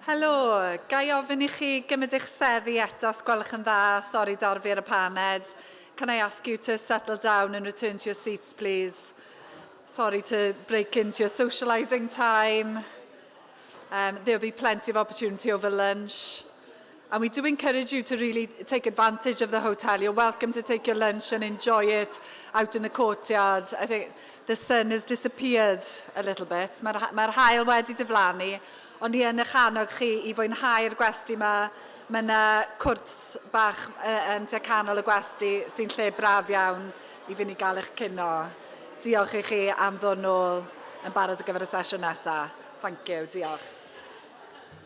Helo, ga i ofyn i chi gymryd eich seddi eto os gwelwch yn dda? Sorry dorfi ar y paned. Can I ask you to settle down and return to your seats, please? Sorry to break into your socialising time. Um, there'll be plenty of opportunity over lunch. And we do encourage you to really take advantage of the hotel. You're welcome to take your lunch and enjoy it out in the courtyard. I think the sun has disappeared a little bit. Mae'r mae hael wedi diflannu, ond ni yn eich annog chi i fwynhau'r gwesti yma. Mae yna cwrt bach um, tua canol y gwesti sy'n lle braf iawn i fynd i gael eich cino. Diolch i chi am ddod nôl yn barod ar gyfer y sesiwn nesaf. Thank you, diolch.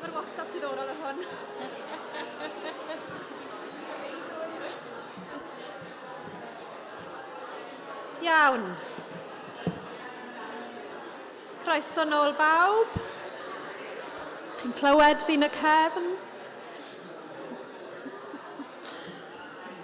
Mae'r WhatsApp diddorol ar hwn. Iawn. Croeso nôl bawb. Chi'n clywed fi'n y cefn?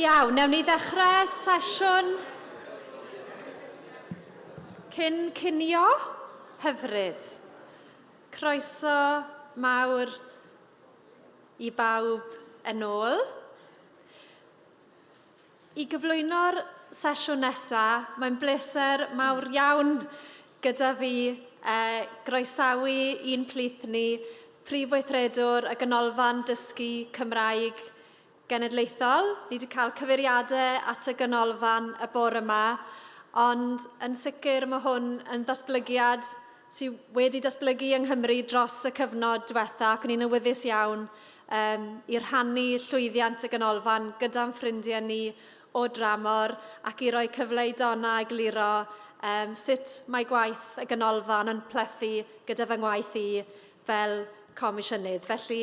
Iawn, newn ni ddechrau sesiwn cyn cinio hyfryd. Croeso mawr i bawb yn ôl. I gyflwyno'r sesiwn nesaf, mae'n bleser mawr iawn gyda fi uh, groesawu i'n plith ni Prif Weithredwr y Ganolfan Dysgu Cymraeg Genedlaethol. Ni wedi cael cyfeiriadau at y ganolfan y bore yma, ond yn sicr mae hwn yn ddatblygiad sydd wedi datblygu yng Nghymru dros y cyfnod diwetha ac ni'n awyddus iawn um, i rhannu llwyddiant y ganolfan gyda'n ffrindiau ni o dramor ac i roi cyfle i Donna i gliro um, sut mae gwaith y ganolfan yn plethu gyda fy ngwaith i fel comisiynydd. Felly,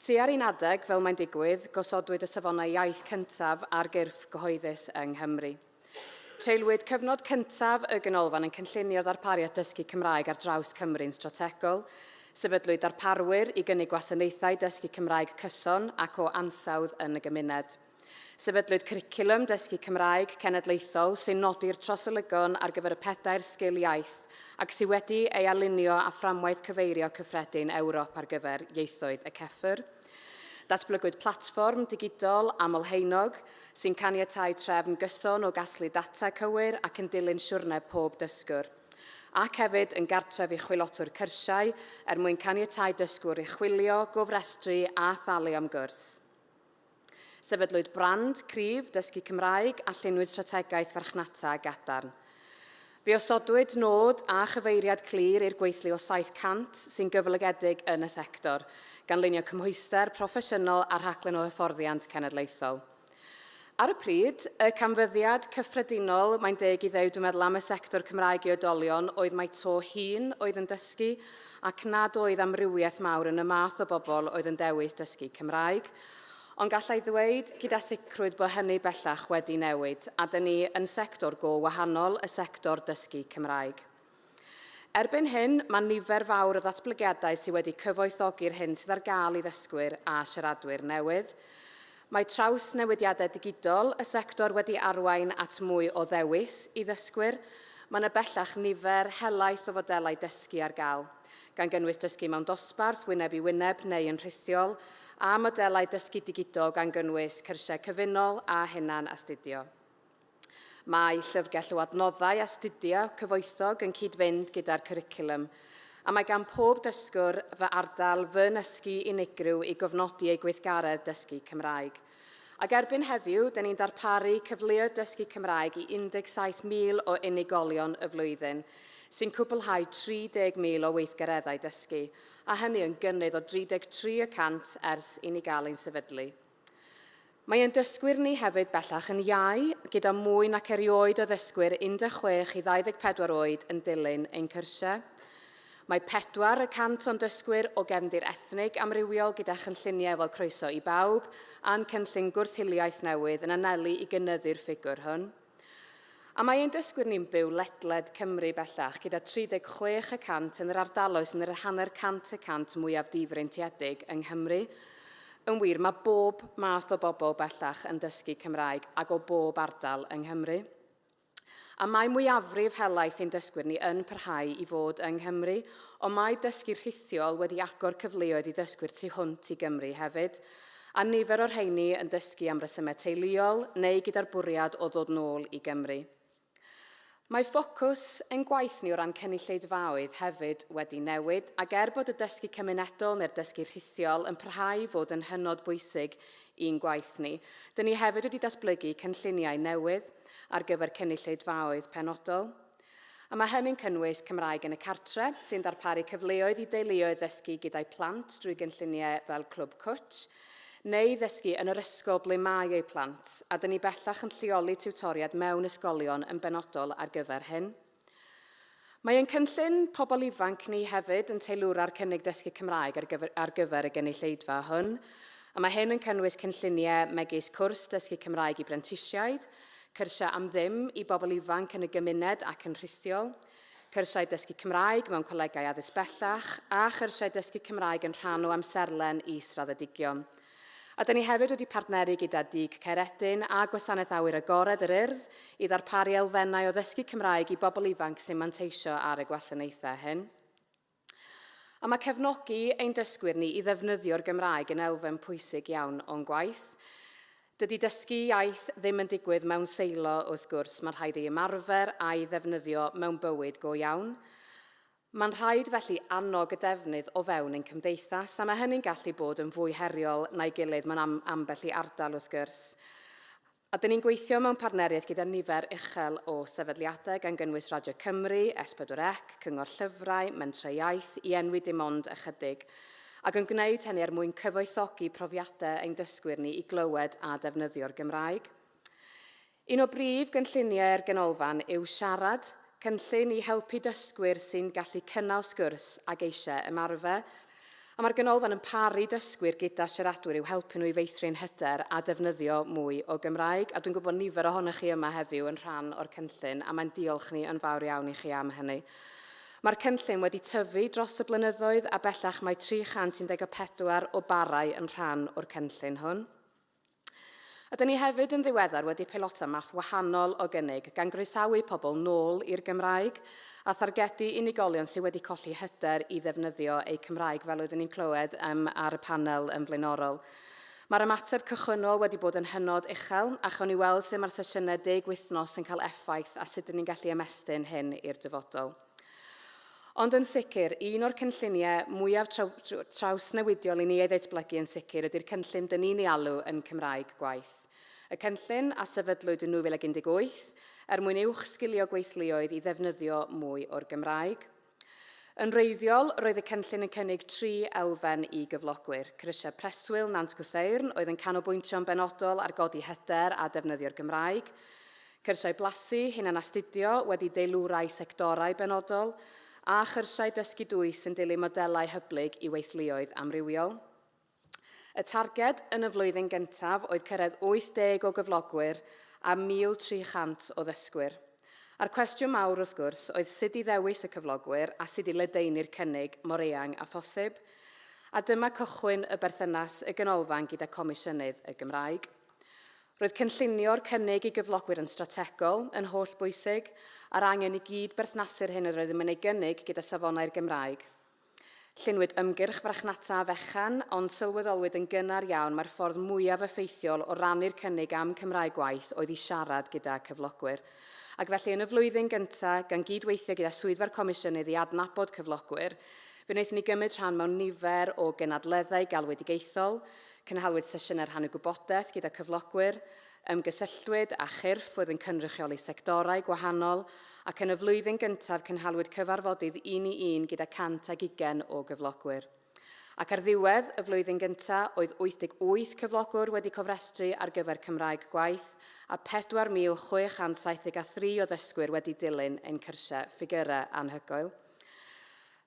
Tua'r un adeg, fel mae'n digwydd, gosodwyd y safonau iaith cyntaf ar gyrff gyhoeddus yng Nghymru. Treulwyd cyfnod cyntaf y Ganolfan yn cynllunio ddarpariaeth dysgu Cymraeg ar draws Cymru'n strategol. Sefydlwyd darparwyr i gynnig gwasanaethau dysgu Cymraeg cyson ac o ansawdd yn y gymuned. Sefydlwyd Cwricwlwm Dysgu Cymraeg Cenedlaethol sy'n nodi'r trosolygom ar gyfer y pedair sgil iaith ac sydd wedi ei alinio â Fframwaith Cyfeirio Cyffredin Ewrop ar gyfer Ieithoedd y CEFR. Datblygwyd platfform digidol aml-haenog sy'n caniatáu trefn gyson o gasglu data cywir ac yn dilyn siwrne pob dysgwr ac hefyd yn gartref i chwilotwr cyrsiau er mwyn caniatáu dysgwr i chwilio, gofrestru a thalu am gwrs. Sefydlwyd brand cryf dysgu Cymraeg a llunwyd strategaeth farchnata gadarn. Fe osodwyd nod a chyfeiriad clir i'r gweithlu o 700 sy'n gyflogedig yn y sector, gan lunio cymhwyster proffesiynol a rhaglen o hyfforddiant cenedlaethol. Ar y pryd, y canfyddiad cyffredinol, mae'n deg i ddeud dwi'n meddwl, am y sector Cymraeg i oedolion oedd mai to hŷn oedd yn dysgu, ac nad oedd amrywiaeth mawr yn y math o bobl oedd yn dewis dysgu Cymraeg, ond gallai ddweud gyda sicrwydd bod hynny bellach wedi newid a dyn ni yn sector go wahanol y sector dysgu Cymraeg. Erbyn hyn, mae nifer fawr o ddatblygiadau sydd wedi cyfoethogi'r hyn sydd ar gael i ddysgwyr a siaradwyr newydd. Mae trawsnewidiadau digidol y sector wedi arwain at mwy o ddewis i ddysgwyr. Mae yna bellach nifer helaeth o fodelau dysgu ar gael, gan gynnwys dysgu mewn dosbarth, wyneb i wyneb neu yn rhithiol, a modelau dysgu digidol gan gynnwys cyrsiau cyfunol a hunan-astudio. Mae llyfrgell o adnoddau astudio cyfoethog yn cyd-fynd gyda'r cwricwlwm, a mae gan pob dysgwr fy ardal fy nysgu unigryw i gofnodi ei gweithgaredd dysgu Cymraeg. Ac erbyn heddiw, dyn ni'n darparu cyfleoedd dysgu Cymraeg i 17,000 o unigolion y flwyddyn, sy'n cwblhau 30,000 o weithgareddau dysgu, a hynny yn gynnydd o 33 y cant ers i ni gael ein sefydlu. Mae ein dysgwyr ni hefyd bellach yn iau, gyda mwy nac erioed o ddysgwyr 16 i 24 oed yn dilyn ein cyrsiau. Mae pedwar y cant o'n dysgwyr o gefndir ethnig amrywiol gyda chynlluniau fel Croeso i Bawb a'n cynllun gwrth-hiliaeth newydd yn anelu i gynyddu'r ffigwr hwn. A mae ein dysgwyr ni'n byw ledled Cymru bellach, gyda 36 y cant yn yr ardaloedd sy'n yr hanner cant y cant mwyaf difreintiedig yng Nghymru. Yn wir, mae bob math o bobl bellach yn dysgu Cymraeg ac o bob ardal yng Nghymru. A mae mwyafrif helaeth ein dysgwyr ni yn parhau i fod yng Nghymru, ond mae dysgu rhithiol wedi agor cyfleoedd i ddysgwyr tu hwnt i Gymru hefyd, a nifer o'r rheini yn dysgu am resymau teuluol neu gyda'r bwriad o ddod nôl i Gymru. Mae ffocws ein gwaith ni o ran cynulleidfaoedd hefyd wedi newid, ac er bod y dysgu cymunedol neu'r dysgu rhithiol yn parhau i fod yn hynod bwysig i'n gwaith ni, dyn ni hefyd wedi datblygu cynlluniau newydd ar gyfer cynulleidfaoedd penodol. A mae hynny'n cynnwys Cymraeg yn y Cartre, sy'n darparu cyfleoedd i deuluoedd ddysgu gyda'u plant drwy gynlluniau fel Clwb Cwt, neu ddysgu yn yr ysgol ble mae eu plant, a dyn ni bellach yn lleoli tiwtoriaid mewn ysgolion yn benodol ar gyfer hyn. Mae ein cynllun pobl ifanc ni hefyd yn teilwra'r cynnig dysgu Cymraeg ar gyfer, ar gyfer y gynulleidfa hwn, a mae hyn yn cynnwys cynlluniau megis cwrs dysgu Cymraeg i brentisiaid, Cyrsiau am ddim i bobl ifanc yn y gymuned ac yn rhithiol, cyrsiau dysgu Cymraeg mewn colegau addysg bellach a chyrsiau dysgu Cymraeg yn rhan o amserlen is-raddedigion. A da ni hefyd wedi partneru gyda Dug Caeredin a Gwasanaeth Awyr Agored yr Urdd i ddarparu elfennau o ddysgu Cymraeg i bobl ifanc sy'n manteisio ar y gwasanaethau hyn. A mae cefnogi ein dysgwyr ni i ddefnyddio'r Gymraeg yn elfen pwysig iawn o'n gwaith. Dydy dysgu iaith ddim yn digwydd mewn seilo, wrth gwrs, mae'n rhaid ei ymarfer a'i ddefnyddio mewn bywyd go iawn. Mae'n rhaid felly annog y defnydd o fewn ein cymdeithas, a mae hynny'n gallu bod yn fwy heriol na'i gilydd mewn am ambell i ardal, wrth gwrs. A dyn ni'n gweithio mewn partneriaeth gyda nifer uchel o sefydliadau gan gynnwys Radio Cymru, S4C, Cyngor Llyfrau, Mentrau Iaith, i enwi dim ond ychydig, ac yn gwneud hynny er mwyn cyfoethogi profiadau ein dysgwyr ni i glywed a defnyddio'r Gymraeg. Un o brif gynlluniau'r Ganolfan yw Siarad, cynllun i helpu dysgwyr sy'n gallu cynnal sgwrs ac eisiau ymarfer A mae'r Ganolfan yn paru dysgwyr gyda siaradwyr i'w helpu nhw i feithrin hyder a defnyddio mwy o Gymraeg. A dwi'n gwybod nifer ohonych chi yma heddiw yn rhan o'r cynllun, a mae'n diolch ni yn fawr iawn i chi am hynny. Mae'r cynllun wedi tyfu dros y blynyddoedd a bellach mae 314 o barau yn rhan o'r cynllun hwn. A da ni hefyd yn ddiweddar wedi peilota math wahanol o gynnig, gan groesawu pobl nôl i'r Gymraeg a thargedu unigolion sydd wedi colli hyder i ddefnyddio eu Cymraeg, fel oeddwn ni'n clywed um, ar y panel yn flaenorol. Mae'r ymateb cychwynnol wedi bod yn hynod uchel, a chawn ni weld sut mae'r sesiynau deg wythnos yn cael effaith a sut ydyn ni'n gallu ymestyn hyn i'r dyfodol. Ond yn sicr, un o'r cynlluniau mwyaf trawsnewidiol i ni ei ddatblygu yn sicr ydy'r cynllun dyn ni'n ei alw yn Cymraeg Gwaith. Y cynllun, a sefydlwyd yn 2018, er mwyn uwch sgilio gweithluoedd i ddefnyddio mwy o'r Gymraeg. Yn wreiddiol, roedd y cynllun yn cynnig tri elfen i gyflogwyr, cyrsiau preswyl Nant Gwrtheyrn oedd yn canolbwyntio'n benodol ar godi hyder a defnyddio'r Gymraeg, Cyrsiau blasu, hunanastudio wedi deilwrau sectorau benodol, a chyrsiau dysgu dwys yn dilyn modelau hyblyg i weithluoedd amrywiol. Y targed yn y flwyddyn gyntaf oedd cyrraedd 80 o gyflogwyr a 1,300 o ddysgwyr. A'r cwestiwn mawr, wrth gwrs, oedd sut i ddewis y cyflogwyr a sut i ledaenu'r cynnig mor eang â phosib. A dyma cychwyn y berthynas y Ganolfan gyda Comisiynydd y Gymraeg. Roedd cynllunio'r cynnig i gyflogwyr yn strategol, yn hollbwysig, a'r angen i gyd berthnasu'r hyn yr oeddem yn ei gynnig gyda safonau'r Gymraeg. Llunwyd ymgyrch frachnata fechan, ond sylweddolwyd yn gynnar iawn mai'r ffordd mwyaf effeithiol o rannu'r cynnig â'm Cymraeg gwaith oedd i siarad gyda cyflogwyr. Ac felly, yn y flwyddyn gyntaf, gan gyd-weithio gyda Swyddfa'r Comisiynydd i adnabod cyflogwyr, fe wnaethon ni gymryd rhan mewn nifer o gynadleddau galwedigaethol, Cynhaliwyd sesiynau rhannu gwybodaeth gyda cyflogwyr, ymgysylltwyd â chyrff oedd yn cynrychioli sectorau gwahanol ac yn y flwyddyn gyntaf cynhaliwyd cyfarfodydd un i un gyda 120 o gyflogwyr. Ac ar ddiwedd y flwyddyn gyntaf, oedd 88 cyflogwr wedi cofrestru ar gyfer Cymraeg Gwaith a 4,673 o ddysgwyr wedi dilyn ein cyrsiau, ffigyrau anhygoel.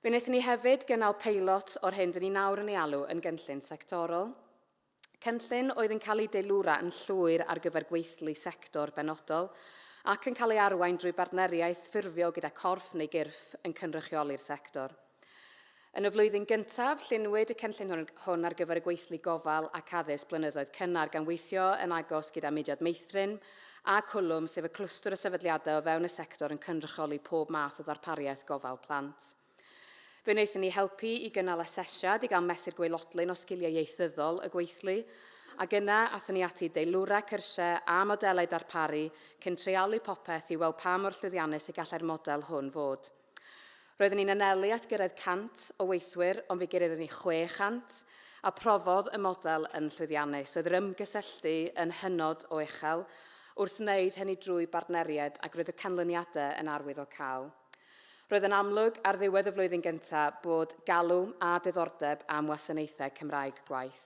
Fe wnaethon ni hefyd gynnal peilot o'r hyn dyn ni nawr yn ei alw yn gynllun sectorol. Cynllun oedd yn cael ei deilwra yn llwyr ar gyfer gweithlu sector benodol ac yn cael ei arwain drwy bartneriaeth ffurfio gyda corff neu gyrff yn cynrychioli'r sector. Yn y flwyddyn gyntaf, lluniwyd y cynllun hwn, hwn ar gyfer y gweithlu gofal ac addysg blynyddoedd cynnar gan weithio yn agos gyda mudiad meithrin, a Cwlwm, sef y clwstwr o sefydliadau o fewn y sector yn cynrychioli pob math o ddarpariaeth gofal plant. Fe wnaethon ni helpu i gynnal asesiad i gael mesur gwaelodlin o sgiliau ieithyddol y gweithlu, ac yna athon ni ati i deilwra cyrsiau a modelau darparu cyn treialu popeth i weld pa mor llwyddiannus y gallai'r model hwn fod. Roeddwn i'n anelu at gyrraedd 100 o weithwyr ond fe gyroeddwn ni 600, a profodd y model yn llwyddiannus. Roedd yr ymgysylltu yn hynod o uchel wrth wneud hynny drwy bartneriaid ac roedd y canlyniadau yn arwyddocaol. Roedd yn amlwg ar ddiwedd y flwyddyn gyntaf bod galw a diddordeb am wasanaethau Cymraeg gwaith.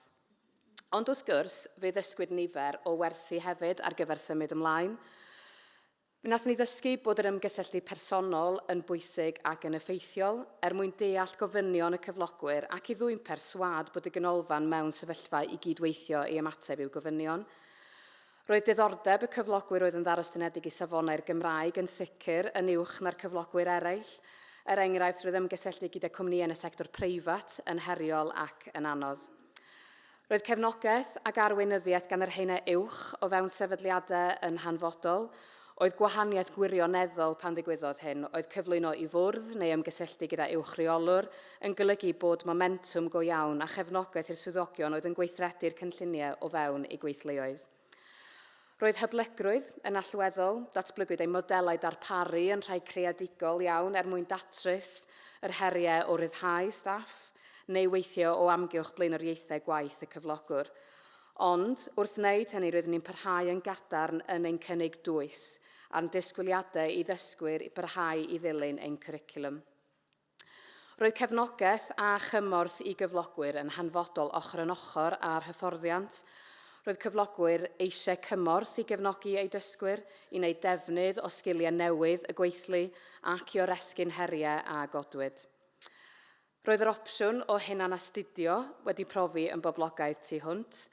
Ond wrth gwrs, fe ddysgwyd nifer o wersi hefyd ar gyfer symud ymlaen. Wnaethon ni ddysgu bod yr ymgysylltu personol yn bwysig ac yn effeithiol er mwyn deall gofynion y cyflogwyr ac i ddwyn perswâd bod y ganolfan mewn sefyllfa i gyd-weithio i ymateb i'w gofynion. Roedd diddordeb y cyflogwyr oedd yn ddarostynedig i safonau'r Gymraeg yn sicr yn uwch na'r cyflogwyr eraill. Er enghraifft, roedd ymgysylltu gyda cwmnïau yn y sector preifat yn heriol ac yn anodd. Roedd cefnogaeth ac arweinyddiaeth gan yr haenau uwch o fewn sefydliadau yn hanfodol. Oedd gwahaniaeth gwirioneddol pan ddigwyddodd hyn, oedd cyflwyno i fwrdd neu ymgysylltu gyda uwch reolwr yn golygu bod momentwm go iawn a chefnogaeth i'r swyddogion oedd yn gweithredu'r cynlluniau o fewn eu gweithleoedd. Roedd hyblygrwydd yn allweddol, datblygwyd ein modelau darparu yn rhai creadigol iawn er mwyn datrys yr heriau o ryddhau staff neu weithio o amgylch blaenoriaethau gwaith y cyflogwr. Ond, wrth wneud hynny roeddwn ni'n parhau yn gadarn yn ein cynnig dwys a'n disgwyliadau i ddysgwyr i barhau i ddilyn ein cwricwlwm. Roedd cefnogaeth a chymorth i gyflogwyr yn hanfodol ochr yn ochr â'r hyfforddiant. Roedd cyflogwyr eisiau cymorth i gefnogi eu dysgwyr i wneud defnydd o sgiliau newydd y gweithlu ac i oresgyn heriau a godwyd. Roedd yr opsiwn o hunanastudio wedi profi yn boblogaidd tu hwnt,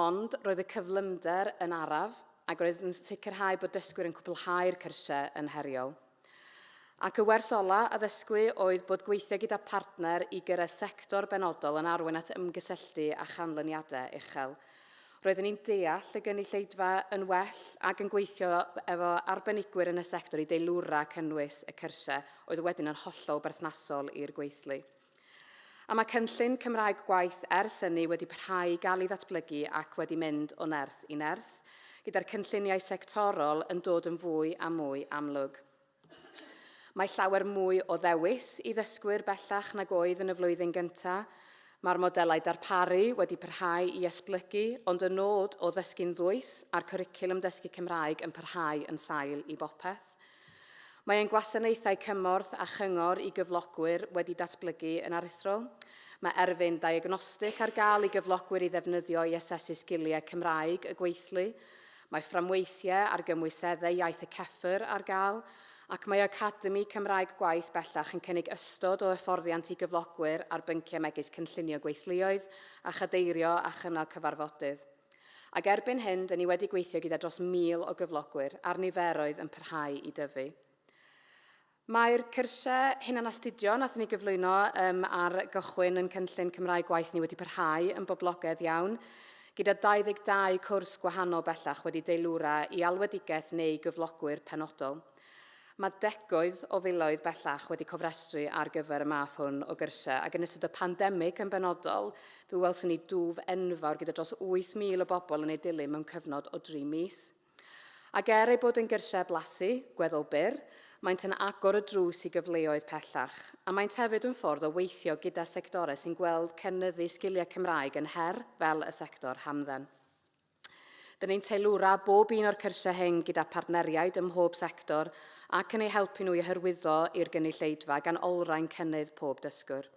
ond roedd y cyflymder yn araf ac roedd yn sicrhau bod dysgwyr yn cwblhau'r cyrsiau yn heriol. Ac y wers ola a ddysgwy oedd bod gweithio gyda partner i gyrraedd sector benodol yn arwain at ymgysylltu a chanlyniadau uchel. Roeddwn i'n deall y gynulleidfa yn well ac yn gweithio efo arbenigwyr yn y sector i deilwra cynnwys y cyrsiau, oedd wedyn yn hollol berthnasol i'r gweithlu. A mae cynllun Cymraeg Gwaith ers hynny wedi parhau i gael ei ddatblygu ac wedi mynd o nerth i nerth, gyda'r cynlluniau sectorol yn dod yn fwy a mwy amlwg. Mae llawer mwy o ddewis i ddysgwyr bellach nag oedd yn y flwyddyn gyntaf. Mae'r modelau darparu wedi parhau i esblygu, ond y nod o ddysgu'n ddwys a'r cwricwlwm dysgu Cymraeg yn parhau yn sail i bopeth. Mae ein gwasanaethau cymorth a chyngor i gyflogwyr wedi datblygu yn aruthrol. Mae erfyn diagnostig ar gael i gyflogwyr i ddefnyddio i asesu sgiliau Cymraeg y gweithlu, mae fframweithiau ar gymwyseddau iaith y CEFR ar gael, ac mae Academi Cymraeg Gwaith bellach yn cynnig ystod o hyfforddiant i gyflogwyr ar bynciau megis cynllunio gweithluoedd a chadeirio a chynnal cyfarfodydd. Ac erbyn hyn, dŷn ni wedi gweithio gyda dros 1,000 o gyflogwyr, a'r niferoedd yn parhau i dyfu. Mae'r cyrsiau hunanastudio nath ni gyflwyno um, ar gychwyn yn cynllun Cymraeg Gwaith ni wedi parhau yn boblogaidd iawn, gyda 22 cwrs gwahanol bellach wedi deilwra i alwedigaeth neu gyflogwyr penodol. Mae degawd o filoedd bellach wedi cofrestru ar gyfer y math hwn o gyrsiau, ac yn ystod y pandemig yn benodol, fe welson ni dwf enfawr gyda dros 8,000 o bobl yn ei dilyn mewn cyfnod o dri mis. Ac er eu bod yn gyrsiau blasu, gweddol byr, maent yn agor y drws i gyfleoedd pellach, a maent hefyd yn ffordd o weithio gyda sectorau sy'n gweld cynyddu sgiliau Cymraeg yn her fel y sector hamdden. Dyn ni'n teilwra bob un o'r cyrsiau hyn gyda phartneriaid ym mhob sector ac yn eu helpu nhw i hyrwyddo i'r gynulleidfa gan olrhain cynnydd pob dysgwr.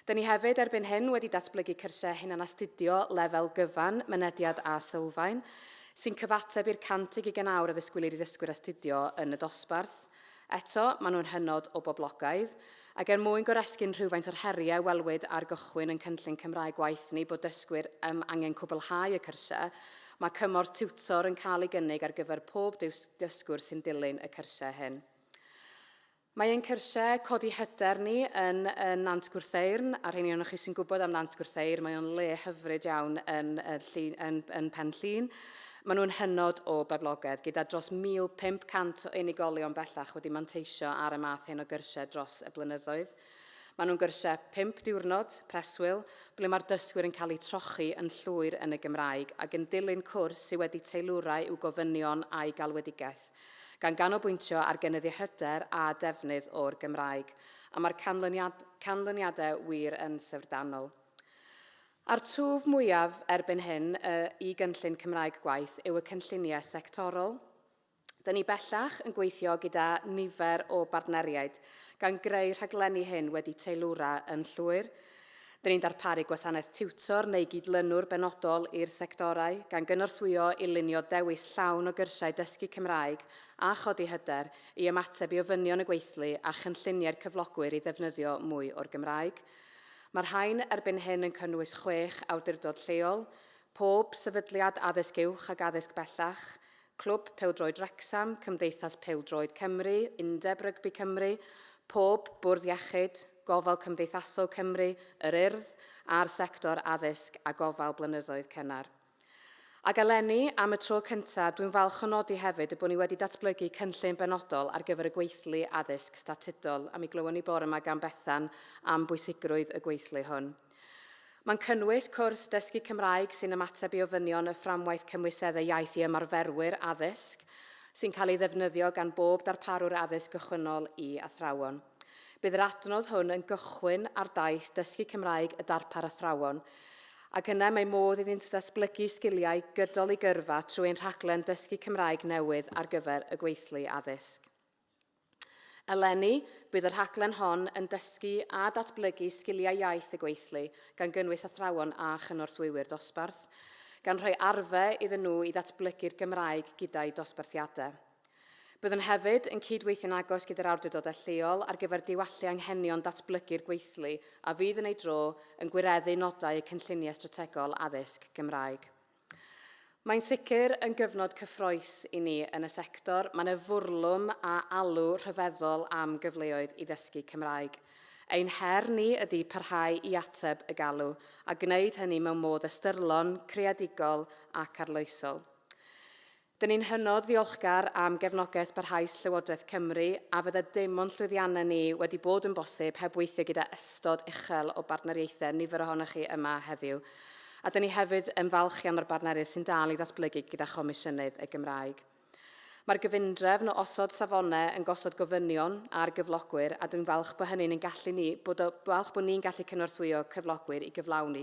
Dyn ni hefyd erbyn hyn wedi datblygu cyrsiau hunanastudio lefel gyfan, mynediad a sylfaen, sy'n cyfateb i'r 100 i gyn awr a ddisgwylir i ddysgwyr astudio yn y dosbarth. Eto, maen nhw'n hynod o boblogaidd, ac er mwyn goresgyn rhywfaint o'r heriau welwyd ar gychwyn ein cynllun Cymraeg Gwaith ni bod dysgwyr am angen cwblhau y cyrsiau, mae cymorth tiwtor yn cael ei gynnig ar gyfer pob dysgwr sy'n dilyn y cyrsiau hyn. Mae ein cyrsiau codi hyder ni yn Nant Gwrtheyrn, a'r rheiny ohonoch chi sy'n gwybod am Nant Gwrtheyrn, mae o'n le hyfryd iawn yn Pen Llŷn. Maen nhw'n hynod o boblogaidd, gyda dros 1,500 o unigolion bellach wedi manteisio ar y math hyn o gyrsiau dros y blynyddoedd. Maen nhw'n gyrsiau pump diwrnod, preswyl, ble mae'r dysgwyr yn cael eu trochi yn llwyr yn y Gymraeg ac yn dilyn cwrs sydd wedi teilwra i'w gofynion a'u galwedigaeth, gan ganolbwyntio ar gynyddu hyder a defnydd o'r Gymraeg. A mae'r canlyniadau wir yn syfrdanol. A'r twf mwyaf erbyn hyn y i gynllun Cymraeg Gwaith yw y cynlluniau sectorol. Dyn ni bellach yn gweithio gyda nifer o bartneriaid, gan greu rhaglenni hyn wedi teilwra yn llwyr. Dyn ni'n darparu gwasanaeth tiwtor neu gydlynwr benodol i'r sectorau, gan gynorthwyo i lunio dewis llawn o gyrsiau dysgu Cymraeg a chodi hyder i ymateb i ofynion y gweithlu a chynlluniau'r cyflogwyr i ddefnyddio mwy o'r Gymraeg. Mae'r rhain erbyn hyn yn cynnwys chwech awdurdod lleol, pob sefydliad addysg uwch ac addysg bellach, Clwb Pêl-droed Wrecsam, Cymdeithas Pêl-droed Cymru, Undeb Rygbi Cymru, pob Bwrdd Iechyd, Gofal Cymdeithasol Cymru, Yr Urdd, a'r sector addysg a gofal blynyddoedd cynnar. Ac eleni, am y tro cyntaf, dwi'n falch o nodi hefyd y bod ni wedi datblygu cynllun benodol ar gyfer y gweithlu addysg statudol, a mi glywon ni bore yma gan Bethan am bwysigrwydd y gweithlu hwn. Mae'n cynnwys cwrs dysgu Cymraeg sy'n ymateb i ofynion y Fframwaith Cymwyseddau Iaith i ymarferwyr addysg, sy'n cael ei ddefnyddio gan bob darparwr addysg gychwynnol i athrawon. Bydd yr adnodd hwn yn gychwyn ar daith Dysgu Cymraeg y Darpar Athrawon, ac yna mae modd iddynt ddatblygu sgiliau gydol eu gyrfa trwy ein rhaglen Dysgu Cymraeg newydd ar gyfer y gweithlu addysg. Eleni, bydd y rhaglen hon yn dysgu a datblygu sgiliau iaith y gweithlu, gan gynnwys athrawon a chynorthwywyr dosbarth, gan rhoi arfer iddyn nhw i ddatblygu'r Gymraeg gyda'u dosbarthiadau. Byddwn hefyd yn cyd-weithio'n agos gyda'r awdurdodau lleol ar gyfer diwallu anghenion datblygu'r gweithlu a fydd yn ei dro yn gwireddu nodau y Cynlluniau Strategol Addysg Gymraeg. Mae'n sicr yn gyfnod cyffroes i ni yn y sector, mae'n y fwrlwm a alw rhyfeddol am gyfleoedd i ddysgu Cymraeg. Ein her ni ydy parhau i ateb y galw, a gwneud hynny mewn modd ystyrlon, creadigol ac arloesol. Dyn ni'n hynod ddiolchgar am gefnogaeth barhaus Llywodraeth Cymru a fydda dim o'n llwyddiannau ni wedi bod yn bosib heb weithio gyda ystod uchel o bartneriaethau, nifer ohonoch chi yma heddiw. A dyn ni hefyd yn falch iawn o'r bartneriaeth sy'n dal i ddatblygu gyda Chomisiynydd y Gymraeg. Mae'r gyfundrefn o osod safonau yn gosod gofynion ar gyflogwyr a dwi'n falch bod hynny'n ein gallu ni, bod o, falch bod ni'n gallu cynorthwyo cyflogwyr i gyflawni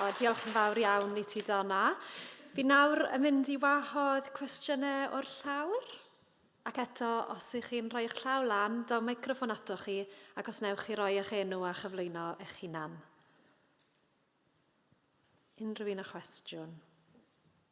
O, diolch yn fawr iawn i ti, Donna. Fi nawr yn mynd i wahodd cwestiynau o'r llawr. Ac eto, os ych chi'n rhoi eich llaw lan, daw microffon atoch chi, ac os newch chi roi eich enw a chyflwyno eich hunan. Unrhyw un â chwestiwn?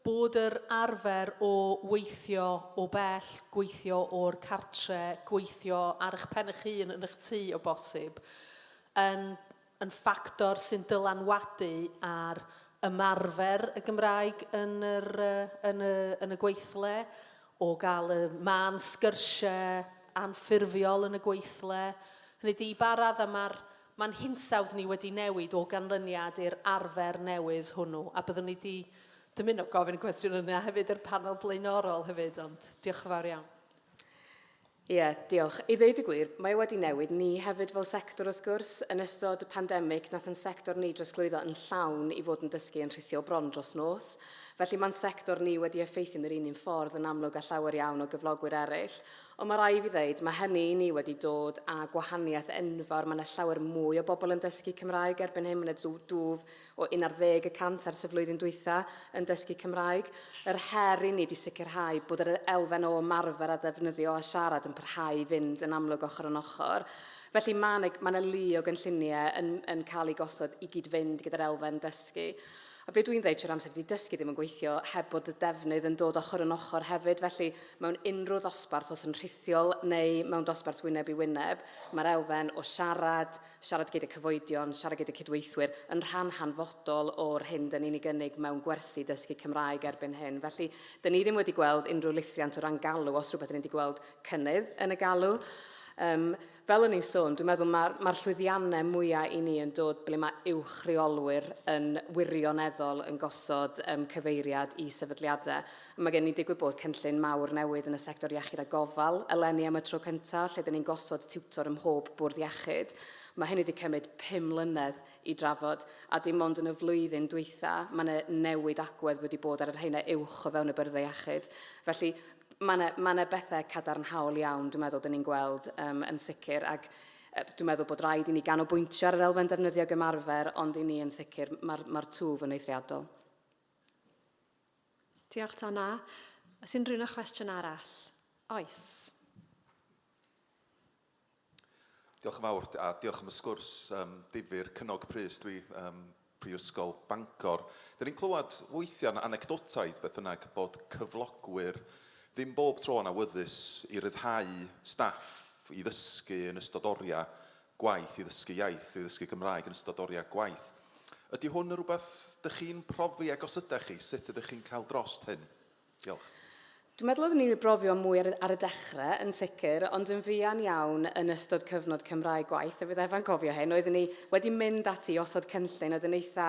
Bod yr arfer o weithio o bell, gweithio o'r cartre, gweithio ar eich pen eich hun yn eich tŷ o bosib, yn yn ffactor sy'n dylanwadu ar ymarfer y Gymraeg yn yr yn y yn y gweithle, o gael y mân sgyrsiau anffurfiol yn y gweithle. Hynny ydi, i ba raddau mae'r Mae'n hinsawdd ni wedi newid o ganlyniad i'r arfer newydd hwnnw, a byddwn ni 'di dymuno gofyn y cwestiwn yna hefyd i'r panel blaenorol hefyd, ond diolch yn fawr iawn. Ie, diolch. I ddeud y gwir, mae e wedi newid ni hefyd fel sector wrth gwrs. Yn ystod y pandemig, nath yn sector ni drosglwyddo yn llawn i fod yn dysgu yn rhithio bron dros nos. Felly mae'n sector ni wedi effeithio yn yr un un ffordd yn amlwg â llawer iawn o gyflogwyr eraill, Ond mae rhaid i fi ddeud, mae hynny i ni wedi dod â gwahaniaeth enfawr, mae 'na llawer mwy o bobl yn dysgu Cymraeg erbyn hyn, mae 'na dw- dwf o 11 y cant ers y flwyddyn dwytha yn dysgu Cymraeg. Yr her i ni ydi sicrhau bod yr elfen o ymarfer a defnyddio a siarad yn parhau i fynd yn amlwg ochr yn ochr. Felly mae 'na mae 'na lu o gynlluniau yn yn cael eu gosod i gyd-fynd gyda'r elfen dysgu. A be dwi'n ddeud trwy'r amser ydy dysgu ddim yn gweithio heb bod y defnydd yn dod ochr yn ochr hefyd, felly mewn unrhyw ddosbarth, os yn rhithiol neu mewn dosbarth wyneb i wyneb, mae'r elfen o siarad, siarad gyda cyfoedion, siarad gyda cydweithwyr, yn rhan hanfodol o'r hyn dyn ni'n ei gynnig mewn gwersi dysgu Cymraeg erbyn hyn. Felly, dyn ni ddim wedi gweld unrhyw lithiant o ran galw, os rhywbeth dyn ni wedi gweld cynnydd yn y galw. Um, Fel o'n i'n sôn, dwi'n meddwl mae'r ma llwyddiannau mwyaf i ni yn dod ble mae uwch reolwyr yn wirioneddol yn gosod um, cyfeiriad i sefydliadau. A mae gen ni digwydd bod cynllun mawr newydd yn y sector iechyd a gofal eleni am y tro cyntaf, lle dyn ni'n gosod tiwtor ym mhob bwrdd iechyd. Mae hynny wedi cymryd pum mlynedd i drafod, a dim ond yn y flwyddyn dwytha, mae yna newid agwedd wedi bod ar yr heina uwch o fewn y byrddau iechyd. Felly, mae yna, mae yna bethau cadarnhaol iawn, dwi'n meddwl, dyn ni'n gweld um, yn sicr, ac dwi'n meddwl bod rhaid i ni ganolbwyntio ar yr elfen defnyddio gymarfer, ond i ni yn sicr, mae'r ma twf yn eithriadol. Diolch, Donna. Os unrhyw un o chwestiwn arall? Oes. Diolch yn fawr, a diolch am y sgwrs um, difyr, cynnog prys dwi, um, Prifysgol Bangor. Dyn ni'n clywed weithiau'n anecdotaidd beth bynnag bod cyflogwyr ddim bob tro yn awyddus i ryddhau staff i ddysgu yn ystod oriau gwaith, i ddysgu iaith, i ddysgu Gymraeg yn ystod oriau gwaith. Ydy hwn yn rhywbeth dych chi'n profi ag os ydych chi, sut ydych chi'n cael drost hyn? Diolch. Dwi'n meddwl oeddwn i'n brofio mwy ar, ar y dechrau, yn sicr, ond yn fuan iawn yn ystod cyfnod Cymraeg gwaith, a bydd Efa'n cofio hyn, oeddwn i wedi mynd ati i osod cynllun oedd yn eitha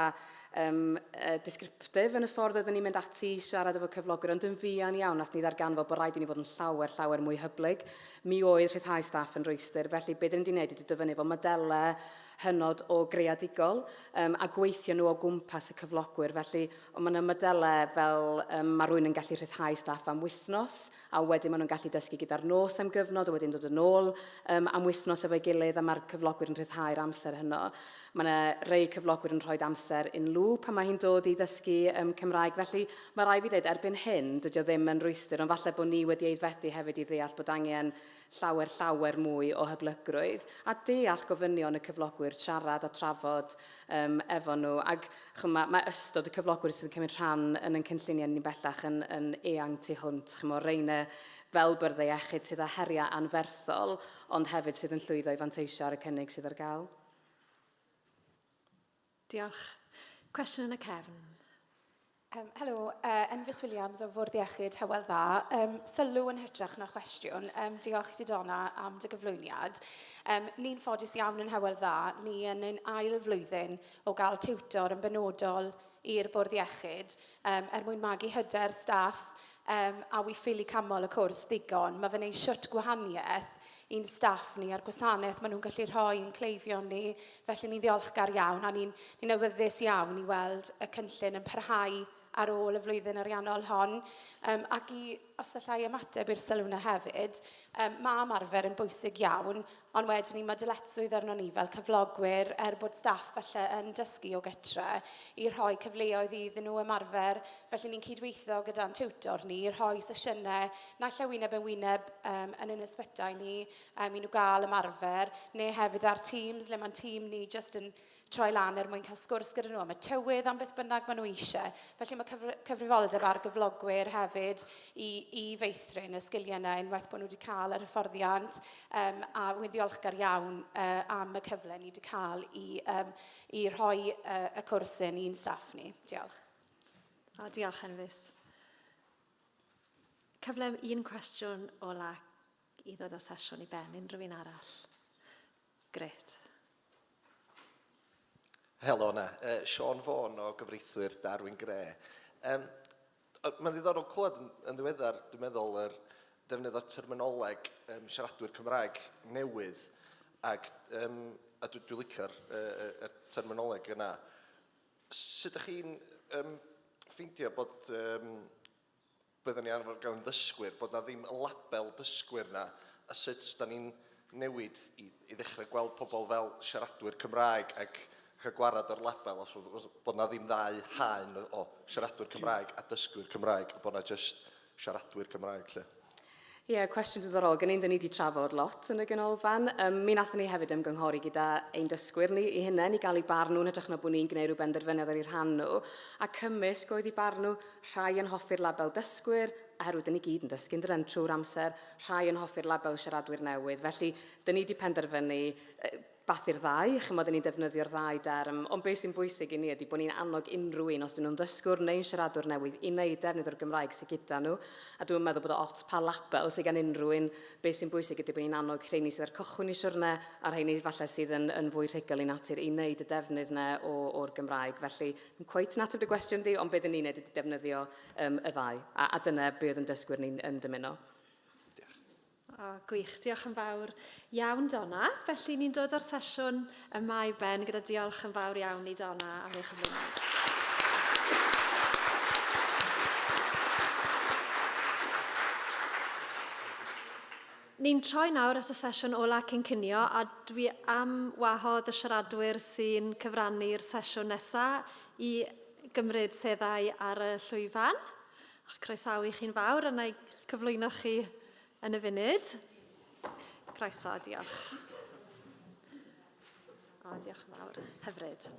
um, uh, discriptif yn y ffordd oeddwn i'n mynd ati i siarad efo cyflogwyr, ond yn fuan iawn nath ni ddarganfod bod rhaid i ni fod yn llawer, llawer mwy hyblyg. Mi oedd rhyddhau staff yn rhwystr, felly beth dyn ni wedi gwneud ydy dyfynnu fo modelau hynod o greadigol um, a gweithio nhw o gwmpas y cyflogwyr. Felly, ond mae yna modelau fel um, mae rhywun yn gallu rhyddhau staff am wythnos, a wedyn maen nhw'n gallu dysgu gyda'r nos am gyfnod, a wedyn dod yn ôl um, am wythnos efo'i gilydd, a mae'r cyflogwyr yn rhyddhau'r amser hynno. Mae yna rei cyflogwyr yn rhoi amser yn lŵ pan mae hi'n dod i ddysgu um, Cymraeg. Felly, mae rai fi ddweud, erbyn hyn, dydy o ddim yn rhwystr, ond falle bod ni wedi eiddfedu hefyd i ddeall bod angen llawer llawer mwy o hyblygrwydd a deall gofynion y cyflogwyr, siarad a trafod um, efo nhw. Ac chym, mae, mae ystod y cyflogwyr sydd yn cymryd rhan yn yn cynlluniau ni bellach yn, yn eang tu hwnt. Chym, o reine fel byrddau iechyd sydd â heriau anferthol, ond hefyd sydd yn llwyddo i fanteisio ar y cynnig sydd ar gael. Diolch. Cwestiwn yn y cefn. Um, helo, uh, Enfus Williams o Fwrdd Iechyd Hywel Dda. Um, sylw yn hytrach na chwestiwn. Um, diolch ti Donna am dy gyflwyniad. Um, ni'n ffodus iawn yn Hywel Dda. Ni yn ein ail flwyddyn o gael tiwtor yn benodol i'r bwrdd iechyd um, er mwyn magu hyder staff Yym, a wi ffili canmol y cwrs ddigon. Mae fe'n neud siwt gwahaniaeth i'n staff ni a'r gwasanaeth maen nhw'n gallu rhoi i'n cleifion ni, felly ni'n ddiolchgar iawn a ni'n ni'n awyddus iawn i weld y cynllun yn parhau ar ôl y flwyddyn ariannol hon. Yym, ac i, os alla i ymateb i'r sylw 'na hefyd, yym, ma' ymarfer yn bwysig iawn Ond wedyn 'ny ma' dyletswydd arnon ni fel cyflogwyr, er bod staff falle yn dysgu o gytre, i rhoi cyfleoedd iddyn nhw ymarfer, felly ni'n cydweithio gyda'n tiwtor ni i rhoi sesiynau naill ai wyneb yn wyneb yym yn ein ysbytai ni yym i nhw gael ymarfer, neu hefyd ar Teams le ma'n tîm ni jyst yn troi lan er mwyn cael sgwrs gyda nhw am y tywydd, am beth bynnag maen nhw eisiau. Felly mae cyfr cyfrifoldeb ar gyflogwyr hefyd i, i feithrin y sgiliau yna unwaith bod nhw wedi cael yr hyfforddiant um, a wy'n ddiolchgar iawn uh, am y cyfle ni wedi cael i, um, i rhoi uh, y cwrs yn i'n staff ni. Diolch. A diolch, Henfus. Cyfle un cwestiwn ola i ddod o'r sesiwn i ben, unrhyw un arall? Grêt. Helo 'na. Yy, Siôn Fôn o gyfreithwyr Darwin Grey. Yym, mae'n ddiddorol clywed yn, yn ddiweddar, dwi'n meddwl, yr defnydd o terminoleg um, siaradwyr Cymraeg newydd, ac, um, a dwi'n dwi licio'r uh, er terminoleg yna. Sut ydych chi'n um, ffeindio bod um, byddwn ni arfer gael yn ddysgwyr, bod 'na ddim y label dysgwyr 'na, a sut 'dan ni'n newid i i ddechrau gweld pobl fel siaradwyr Cymraeg ac cael gwared â'r label os bod os bod 'na ddim ddau haen o siaradwyr Cymraeg a dysgwyr Cymraeg, a bod 'na jyst siaradwyr Cymraeg 'lly. Ie, yeah, cwestiwn diddorol. Gen i'n dyn ni wedi trafod lot yn y ganolfan. Um, mi nathon ni hefyd ymgynghori gyda ein dysgwyr ni i hynny, ni gael ei barn nhw'n hytrach na bod ni'n gwneud rhyw benderfyniad ar ei rhan nhw. A cymysg oedd i barn nhw, rhai yn hoffi'r label dysgwyr, oherwydd dyn ni gyd yn dysgu'n dren trwy'r amser, rhai yn hoffi'r label siaradwyr newydd. Felly, dyn ni wedi penderfynu beth i'r ddau, chimod, y'n ni'n defnyddio'r ddau derm, ond be sy'n bwysig i ni ydy bod ni'n annog unrhyw un, os dyn nhw'n ddysgwr neu'n siaradwr newydd, i wneud defnydd o'r Gymraeg sy gyda nhw, a dwi'm yn meddwl bod o ots pa label sy gan unrhyw un, be sy'n bwysig ydy bod ni'n annog rheini sydd ar cychwyn y siwrne a rheini falle sydd yn yn fwy rhugl i natur i wneud y defnydd yna o o'r Gymraeg. Felly, ddim cweit yn ateb dy gwestiwn di, ond be dyn ni'n wneud ydy defnyddio yym y ddau, a a dyna be oedd yn dysgwyr ni'n yn dymuno. Diolch. O, gwych. Diolch yn fawr iawn, Donna. Felly, ni'n dod o'r sesiwn yma i ben gyda diolch yn fawr iawn i Donna am ei chyflwyniad. Ni'n troi nawr at y sesiwn ola cyn cynio a dwi am wahodd y siaradwyr sy'n cyfrannu'r sesiwn nesaf i gymryd seddau ar y llwyfan. A'ch croesawu chi'n fawr yna i cyflwyno chi yn y funud. Croeso, diolch. O, diolch yn fawr. Hyfryd.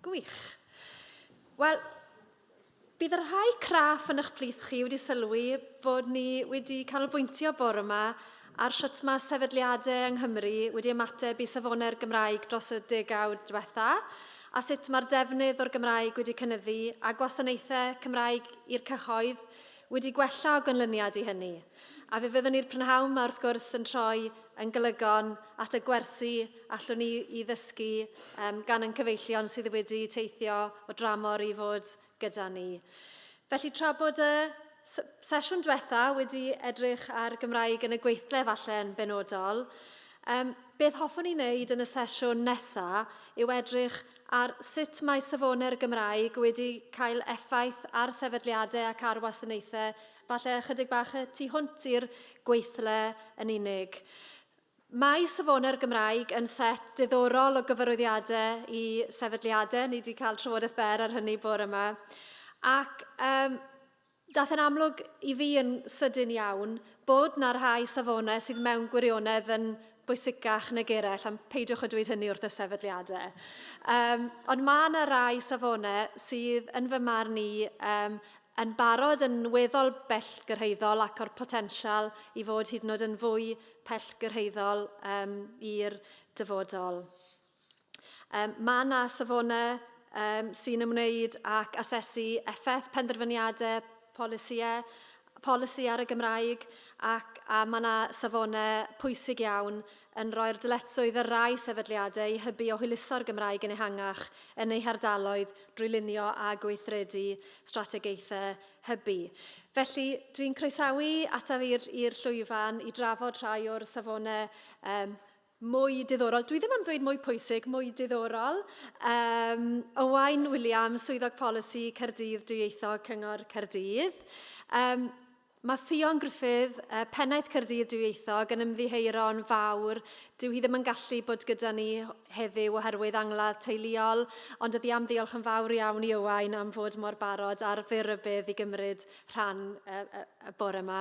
Gwych. Wel, bydd y rhai craff yn eich plith chi wedi sylwi bod ni wedi canolbwyntio bore yma ar sut mae sefydliadau yng Nghymru wedi ymateb i safonau'r Gymraeg dros y degawd diwetha', a sut mae'r defnydd o'r Gymraeg wedi cynyddu a gwasanaethau Cymraeg i'r cyhoedd wedi gwella o ganlyniad i hynny. A fe fyddwn ni'r prynhawn 'ma wrth gwrs yn troi yn golygon at y gwersi allwn ni 'i ddysgu gan ein cyfeillion sydd wedi teithio o dramor i fod gyda ni. Felly tra bod y sesiwn diwetha wedi edrych ar Gymraeg yn y gweithle falle yn benodol, um, beth hoffwn i wneud yn y sesiwn nesaf yw edrych ar sut mae safonau'r Gymraeg wedi cael effaith ar sefydliadau ac ar wasanaethau, falle ychydig bach y tu hwnt i'r gweithle yn unig. Mae Safonau'r Gymraeg yn set diddorol o gyfarwyddiadau i sefydliadau, ni wedi cael trafodaeth fer ar hynny bore yma, ac um, daeth yn amlwg i fi yn sydyn iawn bod na rhai safonau sydd mewn gwirionedd yn bwysicach nag eraill, am peidiwch o dweud hynny wrth y sefydliadau. Um, ond mae yna rai safonau sydd yn fy marn i um, yn barod yn weddol bellgyrhaeddol ac o'r potensial i fod hyd yn oed yn fwy pellgyrhaeddol um, i'r dyfodol. Um, mae yna safonau um, sy'n ymwneud ac asesu effaith penderfyniadau polisïau, polisi ar y Gymraeg ac a mae yna safonau pwysig iawn yn rhoi'r dyletswydd ar rai sefydliadau i hybu o hwyluso'r Gymraeg yn ehangach yn eu hardaloedd drwy lunio a gweithredu strategaethau hybu. Felly, dwi'n croesawu ataf i'r llwyfan i drafod rhai o'r safonau um, mwy diddorol, dwi ddim am ddweud mwy pwysig, mwy diddorol. Um, Owain Williams, Swyddog Polisi Cerdydd Dwyieithog Cyngor Cerdydd. Um, Mae Ffion Gruffydd, Pennaeth Caerdydd Dwyieithog, yn ymddiheuro'n fawr, dyw hi ddim yn gallu bod gyda ni heddiw oherwydd angladd teuluol, ond oddi am ddiolch yn fawr iawn i Owain am fod mor barod ar fyr rybudd i gymryd rhan y bore yma.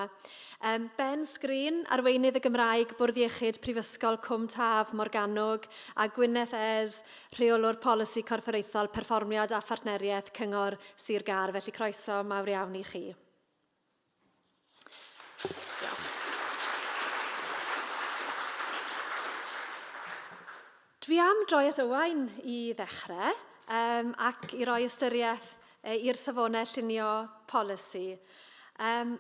Ben Sgrin, Arweinydd y Gymraeg, Bwrdd Iechyd Prifysgol Cwm Taf, Morgannwg, a Gwyneth Ayres, Rheolwr Polisi Corfforaethol, Perfformiad a Phartneriaeth, Cyngor Sir Gâr, felly croeso mawr iawn i chi. Dwi am droi at Owain i ddechrau um, ac i roi ystyriaeth uh, i'r safonau llunio polisi. Um,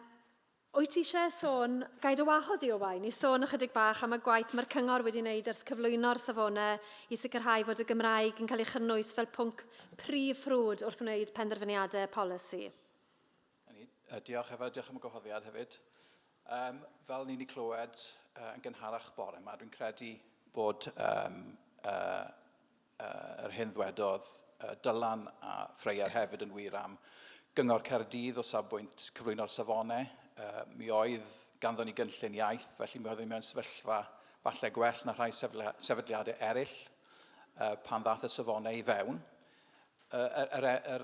Wyt ti eisiau sôn, gaid o wahodd di o wain, i sôn ychydig bach am y gwaith mae'r cyngor wedi wneud ers cyflwyno'r safonau i sicrhau fod y Gymraeg yn cael ei chynnwys fel pwnc prif ffrwd wrth wneud penderfyniadau polisi? Ni, uh, diolch Efa, diolch am y gwahoddiad hefyd. Um, fel ni'n ei clywed uh, yn gynharach bore yma, dwi'n credu bod um, uh, uh, yr hyn ddwedodd uh, Dylan a Ffreier hefyd yn wir am gyngor Cerdydd o safbwynt cyflwyno'r safonau. Uh, mi oedd ganddo ni gynllun iaith, felly mi oeddwn ni mewn sefyllfa falle gwell na rhai sefydliadau eraill uh, pan ddath y safonau i fewn. Yr, yr, yr,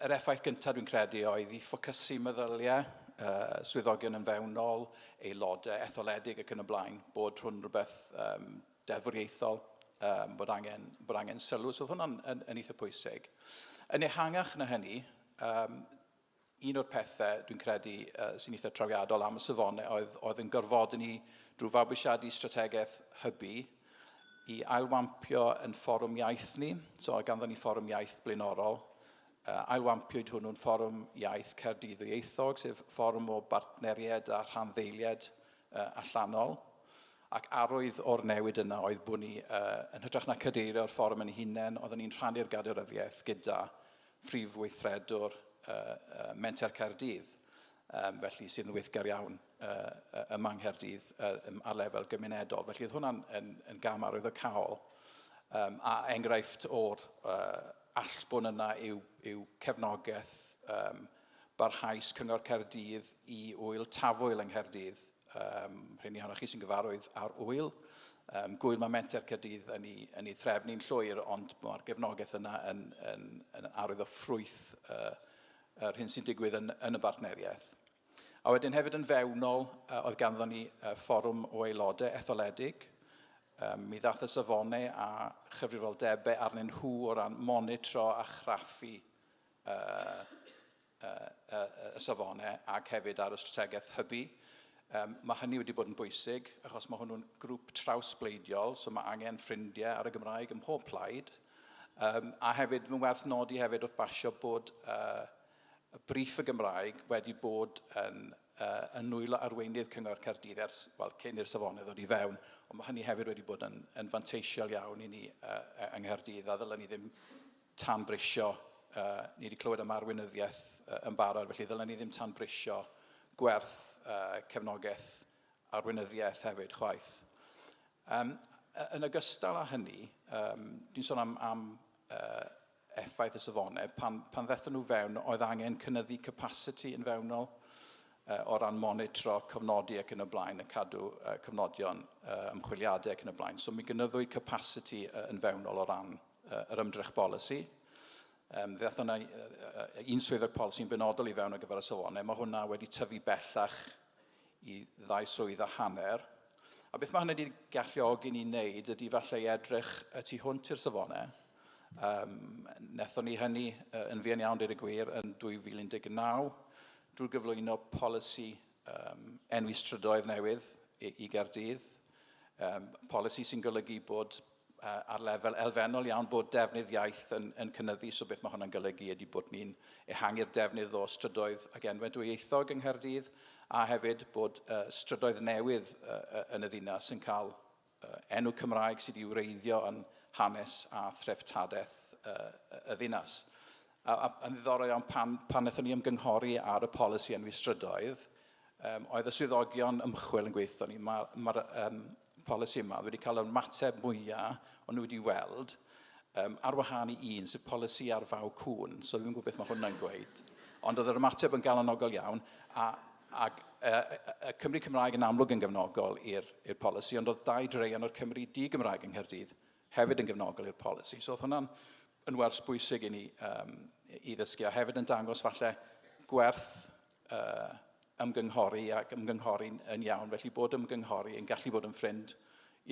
yr effaith gyntaf dwi'n credu oedd i ffocysu meddyliau uh, swyddogion yn fewnol, aelodau etholedig ac yn y blaen, bod hwn rhywbeth um, deddfwriaethol, um, bod, angen, bod angen sylw. So oedd hwnna'n yn, yn eitha pwysig. Yn ehangach na hynny, um, un o'r pethau dwi'n credu uh, sy'n eitha trawiadol am y safonau oedd, oedd yn gorfod ni drwy fabwysiadu strategaeth hybu i ailwampio yn fforwm iaith ni, so ganddo ni fforwm iaith blaenorol, uh, ailwampiwyd hwnnw'n fforwm iaith Caerdydd Ieithog, sef fforwm o bartneriaid a rhanddeiliaid uh, allanol, ac arwydd o'r newid yna oedd bod ni, uh, yn hytrach na cadeirio'r fforwm yn hunain, oeddwn ni'n rhannu'r gadeiryddiaeth gyda Prif Weithredwr Menter Caerdydd, felly sydd yn weithgar iawn ym Manghaerdydd Nghaerdydd ar lefel gymunedol. Felly oedd hwnna'n yn, yn gam arwyddocaol um, a enghraifft o'r uh, allbwn yna yw, yw cefnogaeth um, barhaus Cyngor Caerdydd i wyl tafwyl yng Nghaerdydd Um, rhywun i chi sy'n gyfarwydd ar wyl. Um, gwyl mae menter Cadydd yn ei, yn ei threfn ni'n llwyr, ond mae'r gefnogaeth yna yn, yn, yn arwydd o ffrwyth uh, yr hyn sy'n digwydd yn, yn y bartneriaeth. A wedyn hefyd yn fewnol, uh, oedd ganddo ni uh, fforwm o aelodau etholedig. Um, mi ddath y safonau a chyfrifoldebau arnyn nhw o ran monitro a chraffu uh, y safonau ac hefyd ar y strategaeth hybu. Um, mae hynny wedi bod yn bwysig, achos mae hwnnw'n grŵp trawsbleidiol, so mae angen ffrindiau ar y Gymraeg ym mhob plaid. Um, a hefyd, mae'n werth nodi hefyd wrth basio bod uh, y brif y Gymraeg wedi bod yn, uh, yn nwylo arweinydd Cyngor Caerdydd ers, wel, cyn i'r safonau ddod i fewn, ond mae hynny hefyd wedi bod yn, yn fanteisiol iawn i ni uh, yng Nghaerdydd, a ddylen ni ddim tanbrisio, ni wedi clywed am arweinyddiaeth yn barod, felly ddylen ni ddim tanbrisio gwerth cefnogaeth arweinyddiaeth hefyd chwaith. Um, yn ogystal â hynny, um, dwi'n sôn am, am uh, effaith y safonau, pan, pan ddethon nhw fewn, oedd angen cynnyddu capacity yn fewnol uh, o ran monitro, cofnodi ac yn y blaen, y cadw uh, cofnodion uh, ymchwiliadau ac yn y blaen. So mi gynyddwyd capacity uh, yn fewnol o ran yr ymdrech bolisi. Um, fe yna un swyddog polisi'n benodol i fewn ar gyfer y sylwanau. Mae hwnna wedi tyfu bellach i ddau swydd a hanner. A beth mae hynny wedi galluogi ni wneud ydy falle i edrych y tu hwnt i'r safonau. Um, nethon ni hynny yn fuan iawn, dweud y gwir, yn 2019 drwy gyflwyno polisi um, enwi strydoedd newydd i, i Gerdydd, um, polisi sy'n golygu bod uh, ar lefel elfennol iawn bod defnydd iaith yn, yn cynnyddu, so beth mae hwnna'n golygu ydy bod ni'n ehangu'r defnydd o strydoedd ac enwau dwyieithog yng Nghaerdydd, a hefyd bod uh, strydoedd newydd uh, yn y ddinas yn cael enw Cymraeg sydd wedi wreiddio yn hanes a threftadaeth y ddinas. A, a, yn ddiddorol iawn, pan, pan wnaethon ni ymgynghori ar y polisi enwi strydoedd, um, oedd y swyddogion ymchwil yn gweithio ni, mae'r ma, ma um, polisi yma wedi cael yr mateb mwyaf o'n nhw wedi weld, um, ar wahân i un, sydd polisi ar faw cwn, so dwi'n gwybod beth mae hwnna'n gweud. Ond oedd yr ymateb yn galonogol iawn, a Ac y, y Cymry Cymraeg yn amlwg yn gefnogol i'r polisi, ond oedd dau dreian o'r Cymry di-Gymraeg yng Nghaerdydd hefyd yn gefnogol i'r polisi. So oedd hwnna'n yn wers bwysig i ni um, i ddysgu, a hefyd yn dangos falle gwerth uh, ymgynghori ac ymgynghori'n yn iawn, felly bod ymgynghori yn gallu bod yn ffrind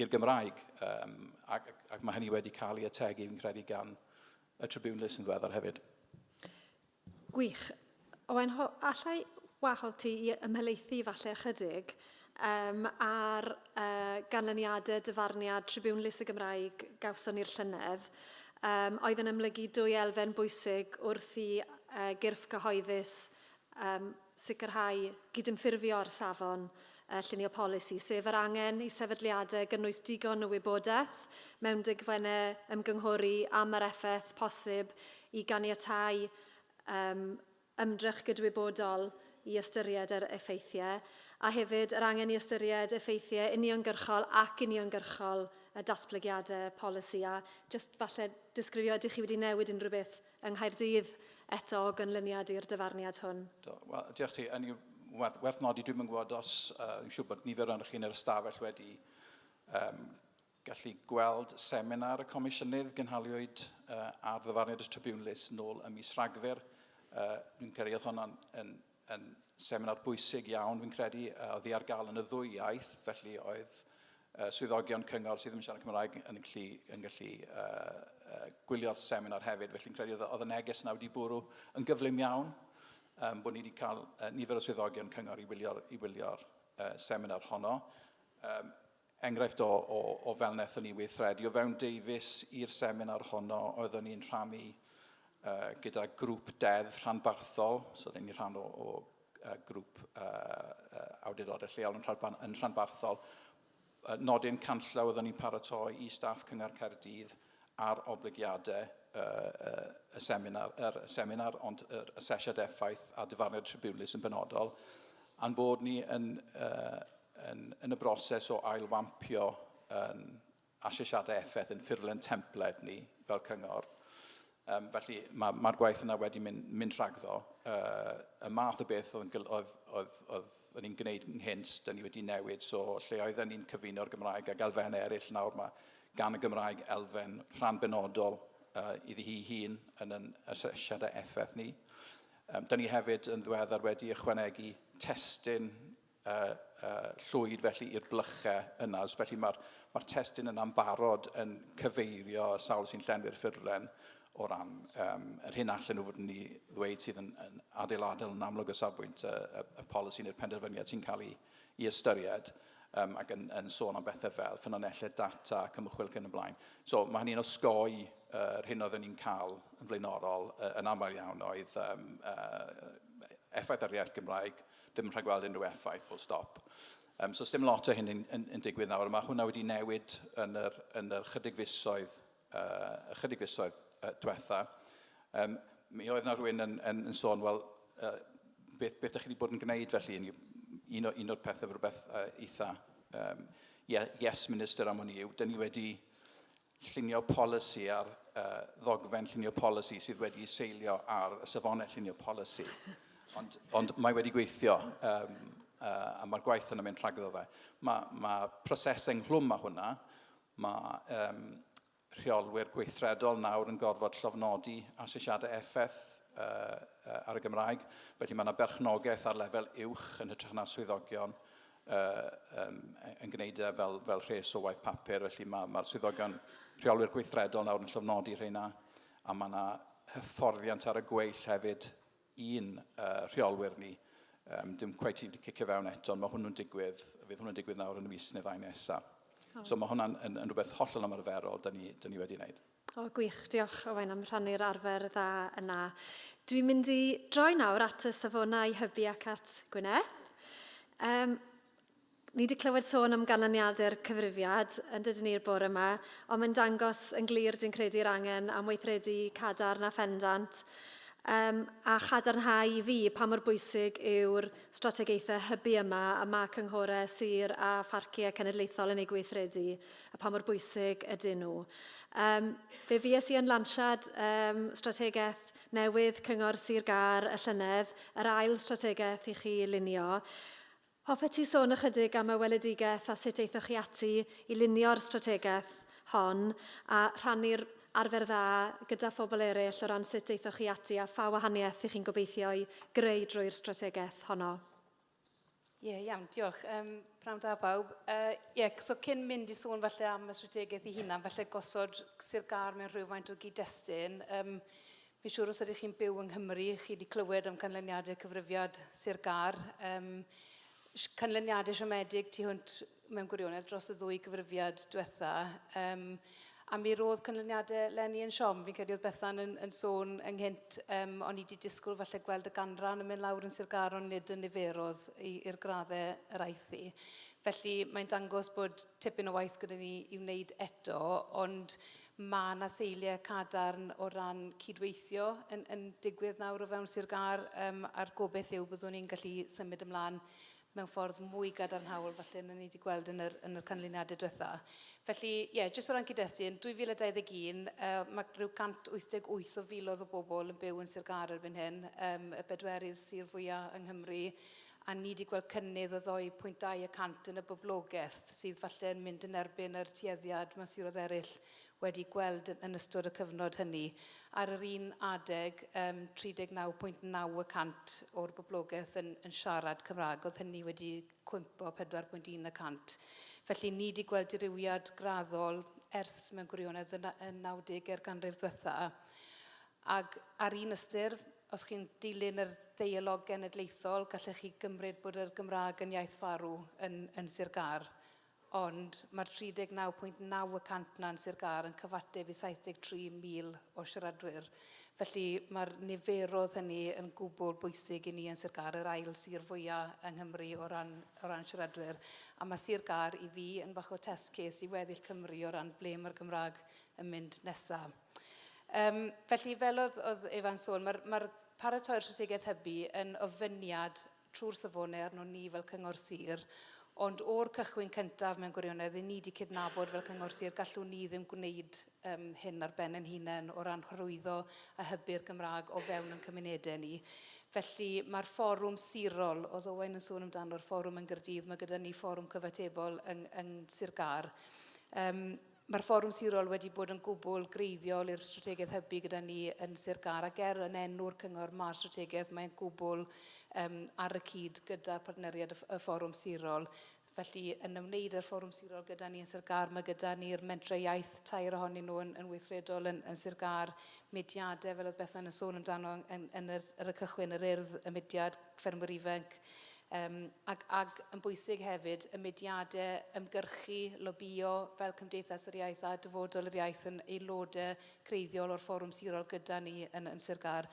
i'r Gymraeg, um, ac, ac mae hynny wedi cael ei ategu fi'n credu gan y Tribune List yn ddiweddar hefyd. Gwych. Owain, allai wahodd ti i ymhelaethu falle ychydig um, ar uh, ganlyniadau dyfarniad Tribiwn Lys y Gymraeg gawson ni'r llynedd, um, oedd yn ymlygu dwy elfen bwysig wrth i uh, gyrff cyhoeddus um, sicrhau gydymffurfio ar safon a llunio polisi, sef yr angen i sefydliadau gynnwys digon o wybodaeth mewn dogfennau ymgynghori am yr effaith posib i ganiatáu um, ymdrech gydwybodol i ystyried yr effeithiau, a hefyd yr angen i ystyried effeithiau uniongyrchol ac uniongyrchol y datblygiadau polisi, a just falle disgrifio ydych chi wedi newid unrhyw beth yng Nghaerdydd eto o gynlyniad i'r dyfarniad hwn. Do, wel, diolch ti. Yn werth, werth nodi, dwi'n yn gwybod os, uh, dwi'n siŵr bod nifer o'n chi yn yr ystafell wedi um, gallu gweld seminar y comisiynydd gynhaliwyd uh, ar ddyfarniad y tribiwnlys nôl ym mis Rhagfyr. Uh, dwi'n credu oedd hwnna'n yn seminar bwysig iawn, fi'n credu, oedd hi ar gael yn y ddwy iaith, felly oedd uh, swyddogion cyngor sydd yn siarad Cymraeg yn gallu, yn gallu uh, uh, gwylio'r seminar hefyd, felly'n credu oedd, oedd y neges yna wedi bwrw yn gyflym iawn, um, bod ni wedi cael uh, nifer o swyddogion cyngor i wylio'r, i wylio'r uh, seminar honno. Um, Enghraifft o, o, o fel wnaethon ni weithredu o fewn Davies i'r seminar honno, oeddwn ni'n rhannu uh, gyda grŵp deddf rhanbarthol, so oeddwn ni'n rhan o, o uh, grŵp uh, uh, awdurdodau lleol yn, rhan, yn rhanbarthol, uh, nodyn canllaw oeddwn ni'n paratoi i staff Cyngor Caerdydd ar oblygiadau y seminar, yr seminar, ond yr asesiad effaith a dyfarniad tribiwnlys yn benodol, a'n bod ni yn, uh, yn, yn y broses o ailwampio yn asesiadau effaith yn ffurflen templed ni fel cyngor. Um, felly mae'r ma, gwaith yna wedi mynd, mynd rhagddo. Uh, y math o beth oedd, oedd, oedd, oedd yn ni'n gwneud ynghynt, dyn ni wedi newid, so lle oedd yn ni'n cyfuno'r Gymraeg ac elfennau eraill nawr mae gan y Gymraeg elfen rhan benodol uh, iddi hi hun yn yn asesiadau effaith ni. Um, da ni hefyd yn ddweddar wedi ychwanegu testyn uh, uh, llwyd felly i'r blychau yna. Felly mae'r ma testyn yna'n barod yn cyfeirio sawl sy'n llenwi'r ffurflen o ran um, yr hyn allan nhw fod ni ddweud sydd yn, yn adeiladol yn amlwg o safbwynt y, y, y polisi neu'r penderfyniad sy'n cael ei i ystyried um, ac yn, yn sôn am bethau fel ffynonellau data ac ymchwil cyn y blaen. So mae hynny'n osgoi uh, hyn oeddwn ni'n cael yn flaenorol uh, yn aml iawn oedd um, uh, effaith ar iaith Gymraeg, ddim rhaid gweld unrhyw effaith, full stop. Um, so dim lot o hyn yn, yn, yn digwydd nawr, mae hwnna wedi newid yn yr, yn yr chydig fisoedd uh, ychydig fisoedd uh, diwetha, um, mi oedd yna rhywun yn, yn, yn sôn, wel, uh, beth, beth ydych chi wedi bod yn gwneud felly? Un, o, un o'r pethau fy rhywbeth uh, eitha um, yes minister am hwn i yw, dyn ni wedi llunio polisi ar uh, ddogfen llunio polisi sydd wedi seilio ar y safonau llunio polisi. Ond, ond mae wedi gweithio um, uh, a mae'r gwaith yna mynd rhagddo fe. Mae, mae proses enghlwm a hwnna, Mae um, rheolwyr gweithredol nawr yn gorfod llofnodi asesiadau effaith uh, ar y Gymraeg, felly mae yna berchnogaeth ar lefel uwch yn hytrach na swyddogion uh, um, yn gwneud e fel, fel rhes o waith papur, felly mae'r ma swyddogion rheolwyr gweithredol nawr yn llofnodi rheina, a mae yna hyfforddiant ar y gweill hefyd i'n rheolwyr ni. Yym dim cweit wedi cicio fewn eto, ond mae hwnnw'n digwydd, fydd hwnnw'n digwydd nawr yn y mis neu ddau nesa. O. So mae hwnna'n yn, yn rhywbeth hollol ymarferol da ni, da ni wedi wneud. O, gwych. Diolch, Owain, am rhannu'r arfer dda yna. Dwi'n mynd i droi nawr at y safonau hybu ac at Gwyneth. Um, Ni wedi clywed sôn am ganlyniadau'r cyfrifiad yn dydyn ni'r bore yma, ond mae'n dangos yn glir dwi'n credu'r angen am weithredu cadarn a phendant um, a chadarnhau i fi pa mor bwysig yw'r strategaethau hybu yma y mae cynghorau sir a pharciau cenedlaethol yn ei gweithredu a pa mor bwysig ydyn nhw. Um, fe fues i yn lansiad um, strategaeth newydd Cyngor Sir Gar y llynedd, yr ail strategaeth i chi lunio. Hoffet ti sôn ychydig am y weledigaeth a sut aethoch chi ati i lunio'r strategaeth hon a rhannu'r arfer dda gyda phobl eraill o ran sut aethoch chi ati a pha wahaniaeth y'ch chi'n gobeithio'i greu drwy'r strategaeth honno? Ie, iawn, diolch. Um, Prawn da bawb. Uh, ie, so cyn mynd i sôn falle am y strategaeth i hunan, falle gosod Sir Gar mewn rhywfaint o gyd-destun. Um, Fi'n siŵr os ydych chi'n byw yng Nghymru, chi wedi clywed am canlyniadau cyfrifiad Sir Gâr. Um, canlyniadau siomedig tu hwnt mewn gwirionedd dros y ddwy gyfrifiad diwetha. Um, a mi roedd canlyniadau Lenny yn siom. Fi'n credu oedd Bethan yn, yn sôn ynghynt, um, o'n i wedi disgwyl falle gweld y ganran yn mynd lawr yn Sir Gar, ond nid yn niferodd i'r graddau yr aeth i. Felly mae'n dangos bod tipyn o waith gyda ni i wneud eto, ond Mae 'na seiliau cadarn o ran cydweithio yn, yn digwydd nawr o fewn Sir Gâr um, a'r gobeith yw byddwn ni'n gallu symud ymlaen mewn ffordd mwy gadarnhaol falle na ni wedi gweld yn yr, yn yr canlyniadau diwetha. Felly, ie, yeah, jyst o ran cyd-destun, yn 2021 uh, mae rhyw 188 o filoedd o bobl yn byw yn Sir Gâr erbyn hyn, um, y bedwerydd sir fwyaf yng Nghymru, a ni 'di gweld cynnydd o ddou pwynt dau y cant yn y boblogaeth, sydd falle yn mynd yn erbyn yr tueddiad ma' siroedd eryll wedi gweld yn yn ystod y cyfnod hynny. Ar yr un adeg, yym 39 pwynt naw y cant o'r boblogaeth yn yn siarad Cymraeg, o'dd hynny wedi cwympo pedwar pwynt un y cant. Felly ni 'di gweld dirywiad graddol ers mewn gwirionedd yn na- yn nawdege'r ganrif ddwetha'. Ag ar un ystyr, Os chi'n dilyn yr ddeialog genedlaethol, gallech chi gymryd bod yr Gymraeg yn iaith farw yn, yn Sir Gâr. Ond mae'r 39.9 y cant yna yn Sir Gâr yn cyfateb i 73,000 o siaradwyr. Felly mae'r niferoedd hynny yn gwbl bwysig i ni yn Sir Gâr, yr ail sir fwyaf yng Nghymru o ran, o ran siaradwyr. A mae Sir Gâr i fi yn fach o test case i weddill Cymru o ran ble mae'r Gymraeg yn mynd nesaf. Um, felly, fel oedd, oedd Efa'n sôn, mae'r ma paratoi'r strategaeth hybu yn ofyniad trwy'r safonau arno ni fel cyngor sir, ond o'r cychwyn cyntaf mewn gwirionedd, i ni wedi cydnabod fel cyngor sir, gallwn ni ddim gwneud um, hyn ar ben yn hunain o ran hyrwyddo a hybu'r Gymraeg o fewn yn cymunedau ni. Felly mae'r fforwm sirol, oedd Owain yn sôn amdano'r fforwm yn Gyrdydd, mae gyda ni fforwm cyfatebol yng, yng Sir Gar. Um, Mae'r fforwm sirol wedi bod yn gwbl greiddiol i'r strategaeth hybu gyda ni yn Sir Gar ac er yn enw'r cyngor mae'r strategaeth mae'n gwbl um, ar y cyd gyda'r partneriad y fforwm sirol. Felly, yn ymwneud â'r fforwm sirol gyda ni yn Sir Gar, mae gyda ni'r mentre iaith, tair ohonyn nhw yn, yn weithredol yn, yn Sir Gar, mediadau, fel oedd Bethan yn sôn amdano yn, yn, yr, ar y cychwyn, yr urdd, y mediad, ffermwyr ifanc, Yym, ac, ac yn bwysig hefyd, y mudiadau ymgyrchu, lobïo, fel Cymdeithas yr Iaith a Dyfodol yr Iaith yn aelodau creiddiol o'r Fforwm Sirol gyda ni yn, yn Sir Gâr.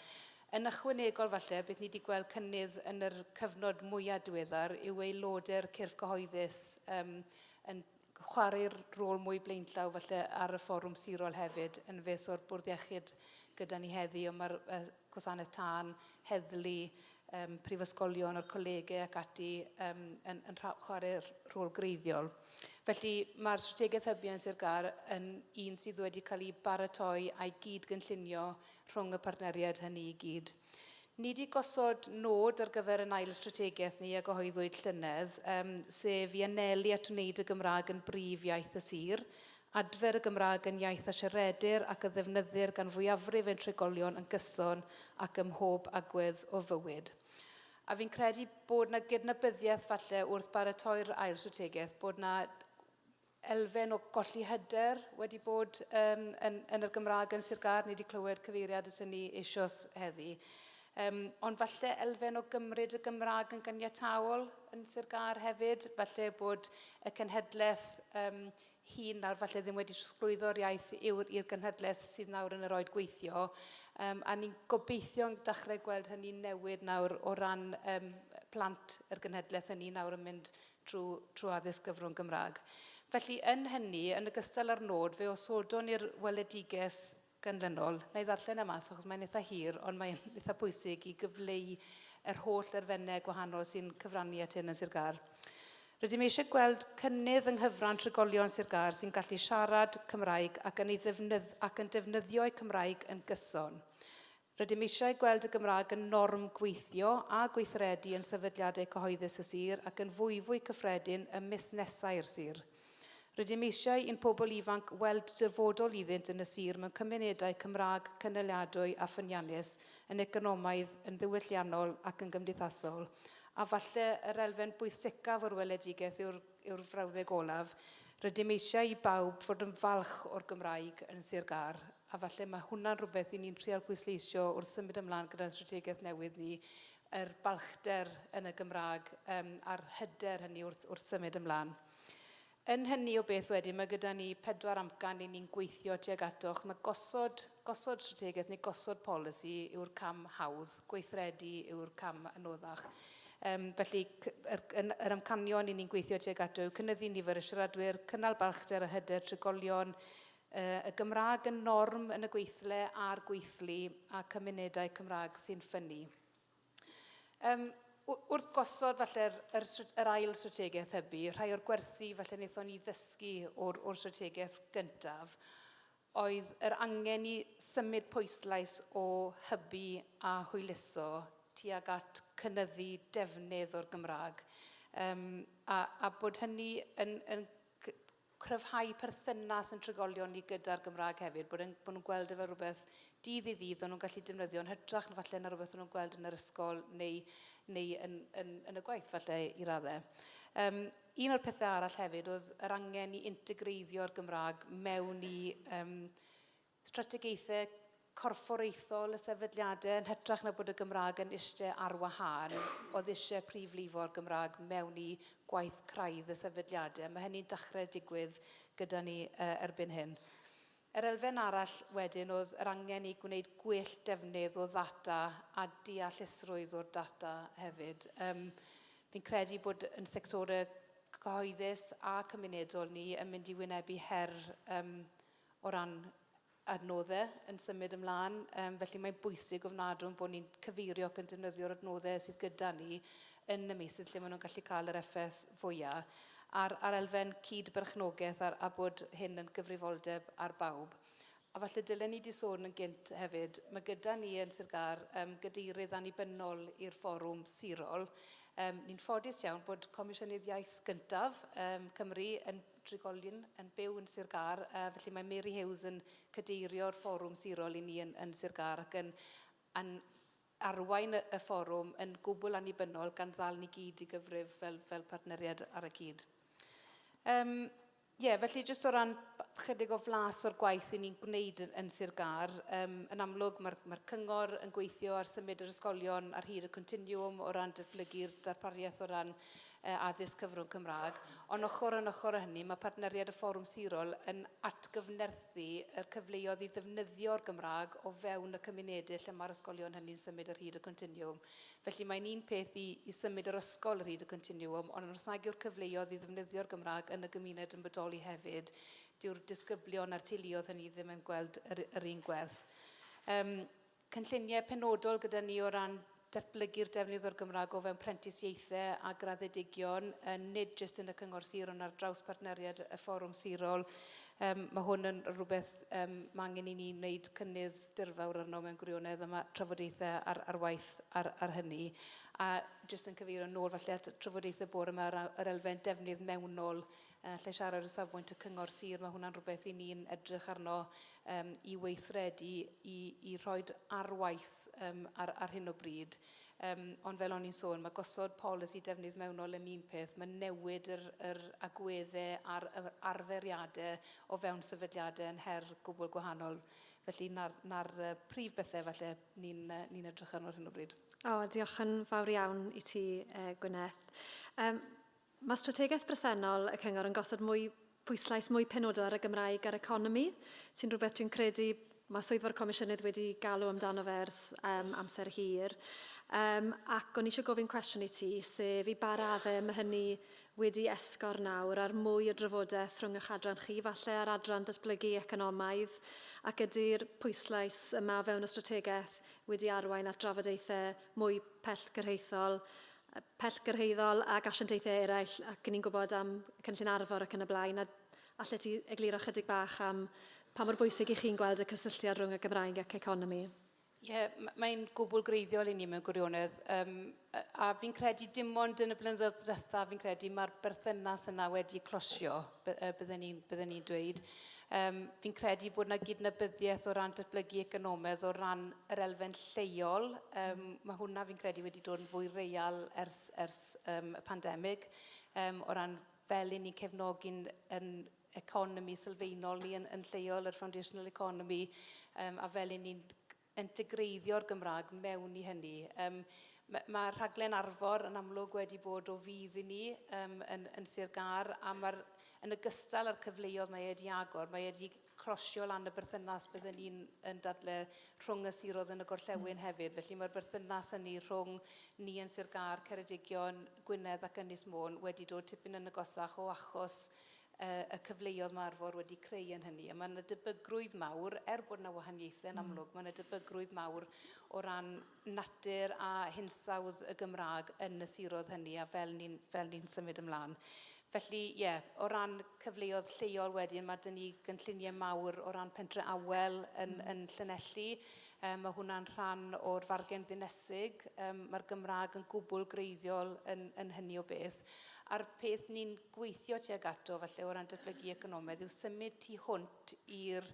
Yn ychwanegol falle, beth ni wedi gweld cynnydd yn yr cyfnod mwyaf diweddar yw aelodau'r cyrff cyhoeddus yym, yn, chwarae rôl mwy blaenllaw falle ar y fforwm sirol hefyd, yn fes o'r Bwrdd Iechyd gyda ni heddi, ond mae'r uh, gwasanaeth tân, heddlu, um, prifysgolion, o'r colegau ac ati um, yn, yn chwarae rhôl greiddiol. Felly mae'r strategaeth hybu yn Sir Gar yn un sydd wedi cael ei baratoi a'i gyd gynllunio rhwng y partneriaid hynny i gyd. Ni 'di gosod nod ar gyfer ein ail strategaeth ni a gyhoeddwyd llynedd, yym, sef i anelu at wneud y Gymraeg yn brif iaith y sir. Adfer y Gymraeg yn iaith a siaredir ac a ddefnyddir gan fwyafrif ein trigolion yn gyson ac ym mhob agwedd o fywyd. A fi'n credu bod 'na gydnabyddiaeth falle wrth baratoi'r ail strategaeth bod 'na elfen o golli hyder wedi bod um, yn, yn yr Gymraeg yn Sir Gâr, ni wedi clywed cyfeiriad at hynny eisioes heddi. Um, ond falle elfen o gymryd y Gymraeg yn gyniataol yn Sir Gâr hefyd, falle bod y cenhedlaeth um, hun nawr falle ddim wedi trosglwyddo'r iaith yw'r i'r genhedlaeth sydd nawr yn yr oed gweithio. Um, a ni'n gobeithio'n dechrau gweld hynny newid nawr o ran um, plant yr genhedlaeth hynny nawr yn mynd trwy trwy addysg gyfrwng Gymraeg. Felly, yn hynny, yn ogystal â'r nod, fe osodwn i'r weledigaeth ganlynol, na i ddarllen e mas achos mae'n eitha hir, ond mae'n eitha pwysig i gyfleu yr holl erfennau gwahanol sy'n cyfrannu at hyn yn Sir Gâr. Rydym eisiau gweld cynnydd yng nghyfran trigolion Sir Gâr sy'n gallu siarad Cymraeg ac yn ei ddefnydd ac yn defnyddio'u Cymraeg yn gyson. Rydym eisiau gweld y Gymraeg yn norm gweithio a gweithredu yn sefydliadau cyhoeddus y sir ac yn fwyfwy cyffredin ym musnesau'r sir. Rydym eisiau i'n pobl ifanc weld dyfodol iddynt yn y sir mewn cymunedau Cymraeg cynaliadwy a ffyniannus, yn economaidd, yn ddiwylliannol ac yn gymdeithasol. A falle yr elfen bwysicaf o'r weledigaeth yw'r yw'r frawddeg olaf, rydym eisiau i bawb fod yn falch o'r Gymraeg yn Sir Gâr. a falle mae hwnna'n rhywbeth i ni'n trial pwysleisio wrth symud ymlaen gyda'n strategaeth newydd ni, yr balchder yn y Gymraeg um, a'r hyder hynny wrth, wrth symud ymlaen. Yn hynny o beth wedyn, mae gyda ni pedwar amcan i ni'n gweithio tuag atoch. Mae gosod, gosod strategaeth neu gosod polisi yw'r cam hawdd, gweithredu yw'r cam anoddach. Um, felly, yr, yr amcanion i ni'n gweithio tuag ato yw cynyddu nifer y siaradwyr, cynnal balchder a hyder trigolion, Y Gymraeg yn norm yn y gweithle a'r gweithlu a cymunedau Cymraeg sy'n ffynnu. Um, wrth gosod falle'r yr, yr ail strategaeth hybu, rhai o'r gwersi falle wnaethon ni ddysgu o'r, or strategaeth gyntaf oedd yr angen i symud pwyslais o hybu a hwyluso tuag at cynyddu defnydd o'r Gymraeg um, a, a bod hynny yn, yn cryfhau perthynas yn trigolion ni gyda'r Gymraeg hefyd, bod e'n- bod nhw'n gweld e fel rhywbeth dydd i ddydd o'n nhw'n gallu defnyddio yn hytrach na falle na rhywbeth o'n nhw'n gweld yn yr ysgol neu neu yn yn yn y gwaith falle i radde. Yym un o'r pethe arall hefyd oedd yr angen i integreiddio'r Gymraeg mewn i yym strategaethau corfforaethol y sefydliadau yn hytrach na bod y Gymraeg yn ishte ar wahân o ddishau prif lifo'r Gymraeg mewn i gwaith craidd y sefydliadau. Mae hynny'n dachrau digwydd gyda ni erbyn hyn. Yr elfen arall wedyn oedd yr angen i gwneud gwell defnydd o ddata a deallusrwydd o'r data hefyd. Um, fi'n credu bod yn sectorau cyhoeddus a cymunedol ni yn mynd i wynebu her um, o ran adnoddau yn symud ymlaen. Um, felly mae'n bwysig ofnadwn bod ni'n cyfeirio ac yn defnyddio'r adnoddau sydd gyda ni yn y meysydd lle maen nhw'n gallu cael yr effaith fwyaf. A'r, ar elfen cyd-berchnogaeth a, a bod hyn yn gyfrifoldeb ar bawb. A falle dylen ni di sôn yn gynt hefyd, mae gyda ni yn Sir Gar um, gadeirydd annibynnol i'r fforwm sirol. Um, ni'n ffodus iawn bod Comisiynydd Iaith gyntaf um, Cymru yn drigolion yn byw yn Sir Gâr, a felly mae Mary Hughes yn cadeirio'r fforwm sirol i ni yn, yn Sir Gâr ac yn, yn arwain y, y fforwm yn gwbl annibynnol gan ddal ni gyd i gyfrif fel, fel partneriad ar y cyd. Um, Ie, yeah, felly jyst o ran chydig o flas o'r gwaith sy'n ni'n gwneud yn, yn Sir Gar, um, yn amlwg mae'r mae cyngor yn gweithio ar symud yr ysgolion ar hyd y continiwm o ran datblygu'r darpariaeth o ran a addysg cyfrwng Cymraeg, ond ochr yn ochr â hynny, mae partneriaid y Fforwm Sirol yn atgyfnerthu y cyfleoedd i ddefnyddio'r Gymraeg o fewn y cymunedau lle mae'r ysgolion hynny'n symud ar hyd y continwwm. Felly, mae'n un peth i i symud yr ysgol ar hyd y continwwm, ond os nag yw'r cyfleoedd i ddefnyddio'r Gymraeg yn y gymuned yn bodoli hefyd, dyw'r disgyblion a'r teuluoedd hynny ddim yn gweld yr yr un gwerth. Yym. cynlluniau penodol gyda ni o ran datblygu'r defnydd o'r Gymraeg o fewn prentisiaethau a graddedigion, nid jyst yn y Cyngor Sir ond ar draws partneriaid y Fforwm Sirol. Mae hwn yn rhywbeth mae angen i ni wneud cynnydd dirfawr arno mewn gwirionedd a mae trafodaethau ar waith ar hynny. A jyst yn cyfeirio nôl falle at y trafodaethau bore yma ar yr elfen defnydd mewnol Yy lle siarad o safbwynt y cyngor sir mae hwnna'n rhywbeth i ni'n edrych arno yym i weithredu i i rhoid ar waith yym ar ar hyn o bryd yym ond fel o'n i'n sôn mae gosod polisi defnydd mewnol yn un peth mae newid yr yr agwedde a'r yr arferiade o fewn sefydliade yn her gwbwl gwahanol felly na'r na'r yy prif bethe falle ni'n yy ni'n edrych arno ar hyn o bryd. O diolch yn fawr iawn i ti yy Gwyneth. Yym. Mae strategaeth bresennol y Cyngor yn gosod mwy pwyslais mwy penodol ar y Gymraeg a'r economi, sy'n rhywbeth dwi'n credu mae Swyddfa'r Comisiynydd wedi galw amdano fe ers um, amser hir. Um, ac o'n eisiau gofyn cwestiwn i ti, sef i ba raddau mae hynny wedi esgor nawr ar mwy o drafodaeth rhwng eich adran chi, falle ar adran datblygu economaidd, ac ydy'r pwyslais yma o fewn y strategaeth wedi arwain at drafodaethau mwy pellgyrhaethol pellgyrhaeddol ac asiantaethau eraill ac ni'n gwybod am cynllun arfor ac yn y blaen a allet ti egluro chydig bach am pa mor bwysig i chi'n gweld y cysylltiad rhwng y Gymraeg ac economi? Ie, mae'n gwbl greiddiol i ni mewn gwirionedd. Um, a fi'n credu dim ond yn y blynyddoedd diwetha, fi'n credu mae'r berthynas yna wedi closio. bydden ni'n bydde ni dweud. Um, fi'n credu bod yna gydnabyddiaeth o ran datblygu economaidd o ran yr elfen lleol. Um, mae hwnna fi'n credu wedi dod yn fwy real ers, ers um, y pandemig um, o ran fel i ni'n cefnogi'n yn economi sylfaenol ni yn, yn lleol, yr foundational economy, um, a fel i ni'n integreiddio'r Gymraeg mewn i hynny. Yym ma' ma' rhaglen Arfor yn amlwg wedi bod o fudd i ni yym yn yn Sir Gâr a ma'r yn ogystal â'r cyfleoedd mae e wedi agor, mae e wedi crosio lan y berthynas bydden ni'n yn dadle rhwng y siroedd yn y gorllewin hefyd. Felly mae'r berthynas hynny rhwng ni yn Sir Gâr, Ceredigion, Gwynedd ac Ynys Môn wedi dod tipyn yn agosach o achos y cyfleoedd mae Arfor wedi creu yn hynny. A mae yna debygrwydd mawr, er bod yna wahaniaethau yn amlwg, mae yna debygrwydd mawr o ran natur a hinsawdd y Gymraeg yn y siroedd hynny a fel ni'n fel ni'n symud ymlaen. Felly, ie, yeah, o ran cyfleoedd lleol wedyn, mae dyn ni gynlluniau mawr o ran pentre awel yn, mm. yn Llanelli. Um, mae hwnna'n rhan o'r fargen ddinesig. Um, Mae'r Gymraeg yn gwbl greiddiol yn, yn hynny o beth. A'r peth ni'n gweithio tuag ato falle o ran datblygu economaidd yw symud tu hwnt i'r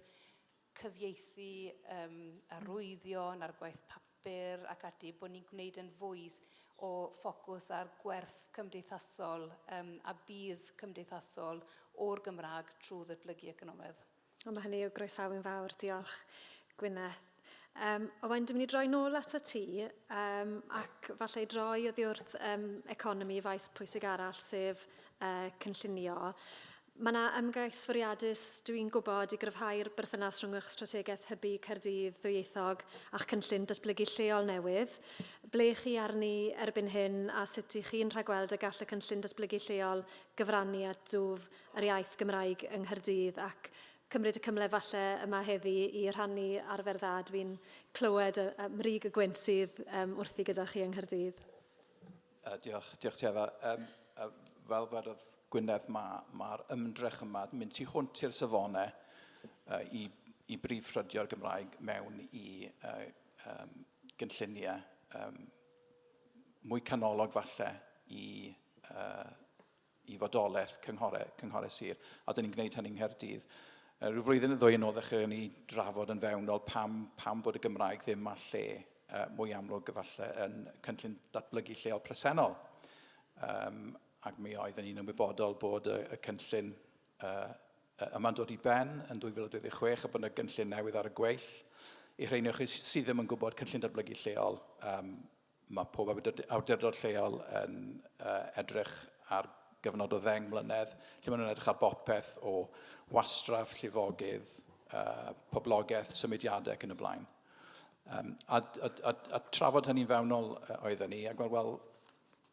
cyfieithu um, arwyddion a'r gwaith papur ac ati, bod ni'n gwneud yn fwy o ffocws ar gwerth cymdeithasol um, a bydd cymdeithasol o'r Gymraeg trwy ddatblygu economaidd. O, mae hynny o groesawu'n fawr. Diolch, Gwyneth. Um, Owain, dwi'n mynd i droi nôl at y ti, um, ac falle i droi oddi wrth um, economi faes pwysig arall, sef uh, cynllunio. Mae yna ymgais fwriadus, dwi'n gwybod, i gryfhau'r berthynas rhwng eich strategaeth hybu Caerdydd ddwyieithog a'ch cynllun datblygu lleol newydd. Ble chi arni erbyn hyn a sut ych chi'n rhagweld y gall y cynllun datblygu lleol gyfrannu at dwf yr iaith Gymraeg yng Nghaerdydd ac cymryd y cymle falle yma heddi i rhannu arfer dda dwi'n clywed a, a mrig y gwynt sydd um, wrthi gyda chi yng Nghaerdydd. Uh, diolch, diolch ti Efa. Um, uh, fel dwedodd Gwynedd, mae'r ma, ma ymdrech yma mynd tu hwnt i'r safonau uh, i, i brif ffrydio'r Gymraeg mewn i uh, um, gynlluniau um, mwy canolog falle i uh, i fodolaeth cynghorau, cynghorau sir, a dyn ni'n gwneud hynny yng Nghaerdydd. Uh, rhyw flwyddyn yn ddwy yn ôl ddechrau ni drafod yn fewnol pam, pam bod y Gymraeg ddim a lle uh, mwy amlwg efallai yn cynllun datblygu lleol presennol. Um, ac mi oeddwn ni'n ymwybodol bod y, y cynllun uh, yma'n dod i ben yn 2026 a bod yna gynllun newydd ar y gweill. I rheiniwch sydd ddim yn gwybod cynllun datblygu lleol, um, Mae pob awdurdod lleol yn edrych ar gyfnod o ddeng mlynedd lle maen nhw'n edrych ar bopeth o wastraff, llifogydd, poblogaeth, symudiadau ac yn y blaen. A trafod hynny'n fewnol oedden ni a gweld, wel,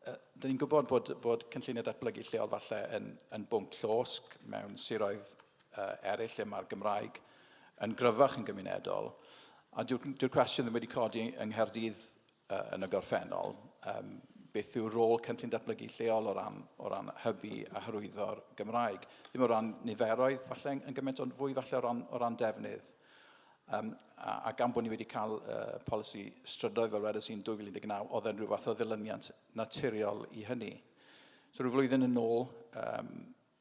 dan ni'n gwybod bod cynlluniau datblygu lleol falle yn bwnc llosg mewn siroedd eraill lle mae'r Gymraeg yn gryfach yn gymunedol, a dyw'r dyw cwestiwn ddim wedi codi yng Nghaerdydd uh, yn y gorffennol, um, beth yw'r rôl cynllun datblygu lleol o ran, o ran hybu a hyrwyddo'r Gymraeg. Ddim o ran niferoedd, falle yn gymaint ond fwy falle o ran, o ran defnydd. Um, a, a gan bod ni wedi cael uh, polisi strydoedd fel wedys i'n 2019, oedd e'n rhyw fath o ddilyniant naturiol i hynny. So rhyw flwyddyn yn ôl, um,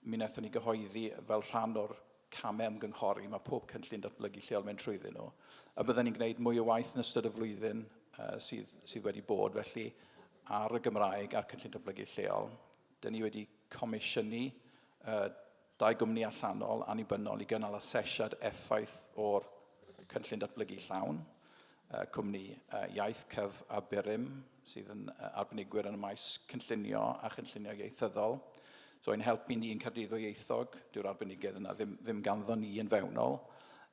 Mi wnaethon ni gyhoeddi, fel rhan o'r camau ymgynghori, mae pob cynllun datblygu lleol mynd trwyddyn nhw, a bydden ni'n gwneud mwy o waith yn ystod y flwyddyn sydd wedi bod, felly, ar y Gymraeg a'r cynllun datblygu lleol. Dyn ni wedi comisiynu dau gwmni allanol annibynnol i gynnal asesiad effaith o'r cynllun datblygu llawn. Cwmni Iaith Cyf a Burim sydd yn arbenigwyr yn y maes cynllunio a chynllunio ieithyddol. So ein helpu ni yn Caerdydd Ddwyieithog, dyw'r arbenigedd yna ddim, ddim ganddo ni yn fewnol,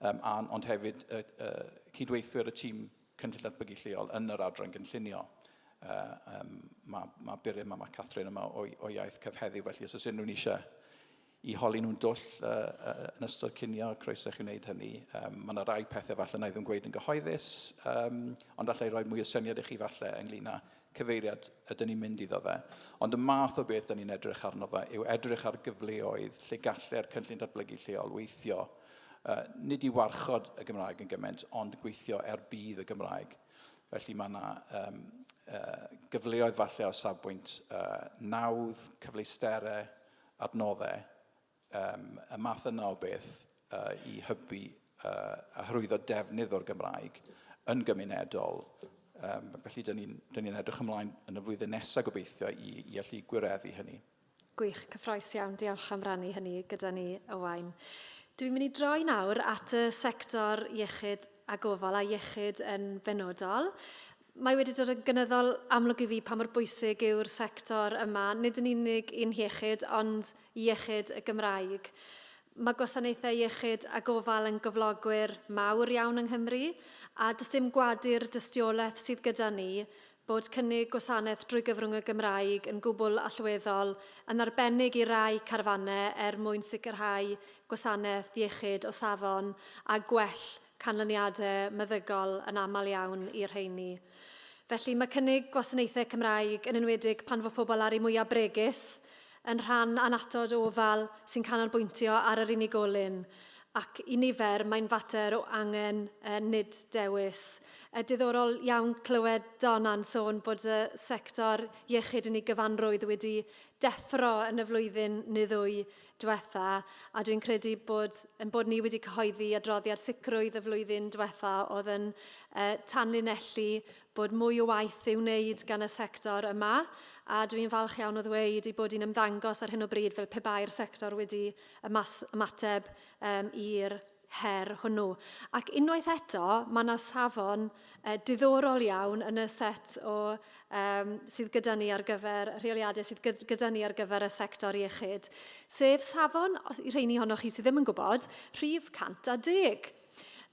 um, a, ond hefyd y, y, cydweithwyr y tîm cynllun datblygu lleol yn yr adran gynllunio. Uh, um, mae, mae Burim a mae Catherine yma o, o iaith cyf heddiw, felly os oes unrhyw'n eisiau i holi nhw'n dwll uh, uh, yn ystod cinio, croeso i chi wneud hynny. Um, mae yna rai pethau falle na i ddim gweud yn gyhoeddus, um, ond allai roi mwy o syniad i chi falle ynglyn â cyfeiriad ydyn ni'n mynd iddo fe. Ond y math o beth ydyn ni'n edrych arno fe yw edrych ar gyfleoedd lle gallai'r cynllun datblygu lleol weithio. Uh, nid i warchod y Gymraeg yn gymaint, ond gweithio er bydd y Gymraeg. Felly mae yna um, uh, gyfleoedd falle o safbwynt uh, nawdd, cyfleusterau, adnoddau, yym, y math yna o beth, yy, i hybu, yy, a hyrwyddo defnydd o'r Gymraeg yn gymunedol. Yym, felly, dyn ni'n dyn ni edrych ymlaen yn y flwyddyn nesaf gobeithio i, i allu gwireddu hynny. Gwych, cyffroes iawn. Diolch am rannu hynny gyda ni, Owain. Dwi'n mynd i droi nawr at y sector iechyd a gofal a iechyd yn benodol. Mae wedi dod yn gynyddol amlwg i fi pa mor bwysig yw'r sector yma, nid yn unig i'n hiechyd, ond iechyd y Gymraeg. Mae gwasanaethau iechyd a gofal yn gyflogwyr mawr iawn yng Nghymru, a does dim gwadu'r dystiolaeth sydd gyda ni bod cynnig gwasanaeth drwy gyfrwng y Gymraeg yn gwbl allweddol, yn arbennig i rai carfannau, er mwyn sicrhau gwasanaeth iechyd o safon a gwell canlyniadau meddygol yn aml iawn i'r rheini. Felly, mae cynnig gwasanaethau Cymraeg, yn enwedig pan fo pobl ar eu mwyaf bregus, yn rhan annatod o ofal sy'n canolbwyntio ar yr unigolyn, ac i nifer mae'n fater o angen, nid dewis. Yn diddorol iawn clywed Dona'n sôn bod y sector iechyd yn ei gyfanrwydd wedi deffro yn y flwyddyn neu ddwy diwetha, a dwi'n credu bod yn bod ni wedi cyhoeddi adroddiad sicrwydd y flwyddyn diwetha oedd yn uh, tanlinellu bod mwy o waith i'w wneud gan y sector yma, a dwi'n falch iawn o ddweud ei bod hi'n ymddangos ar hyn o bryd fel pe bai'r sector wedi ymateb um, i'r her hwnnw. Ac unwaith eto, mae yna safon uh, diddorol iawn yn y set o um, sydd gyda ni ar gyfer rheoliadau sydd gyda ni ar gyfer y sector iechyd, sef safon, i rheini honnoch chi sydd ddim yn gwybod, rhif 110.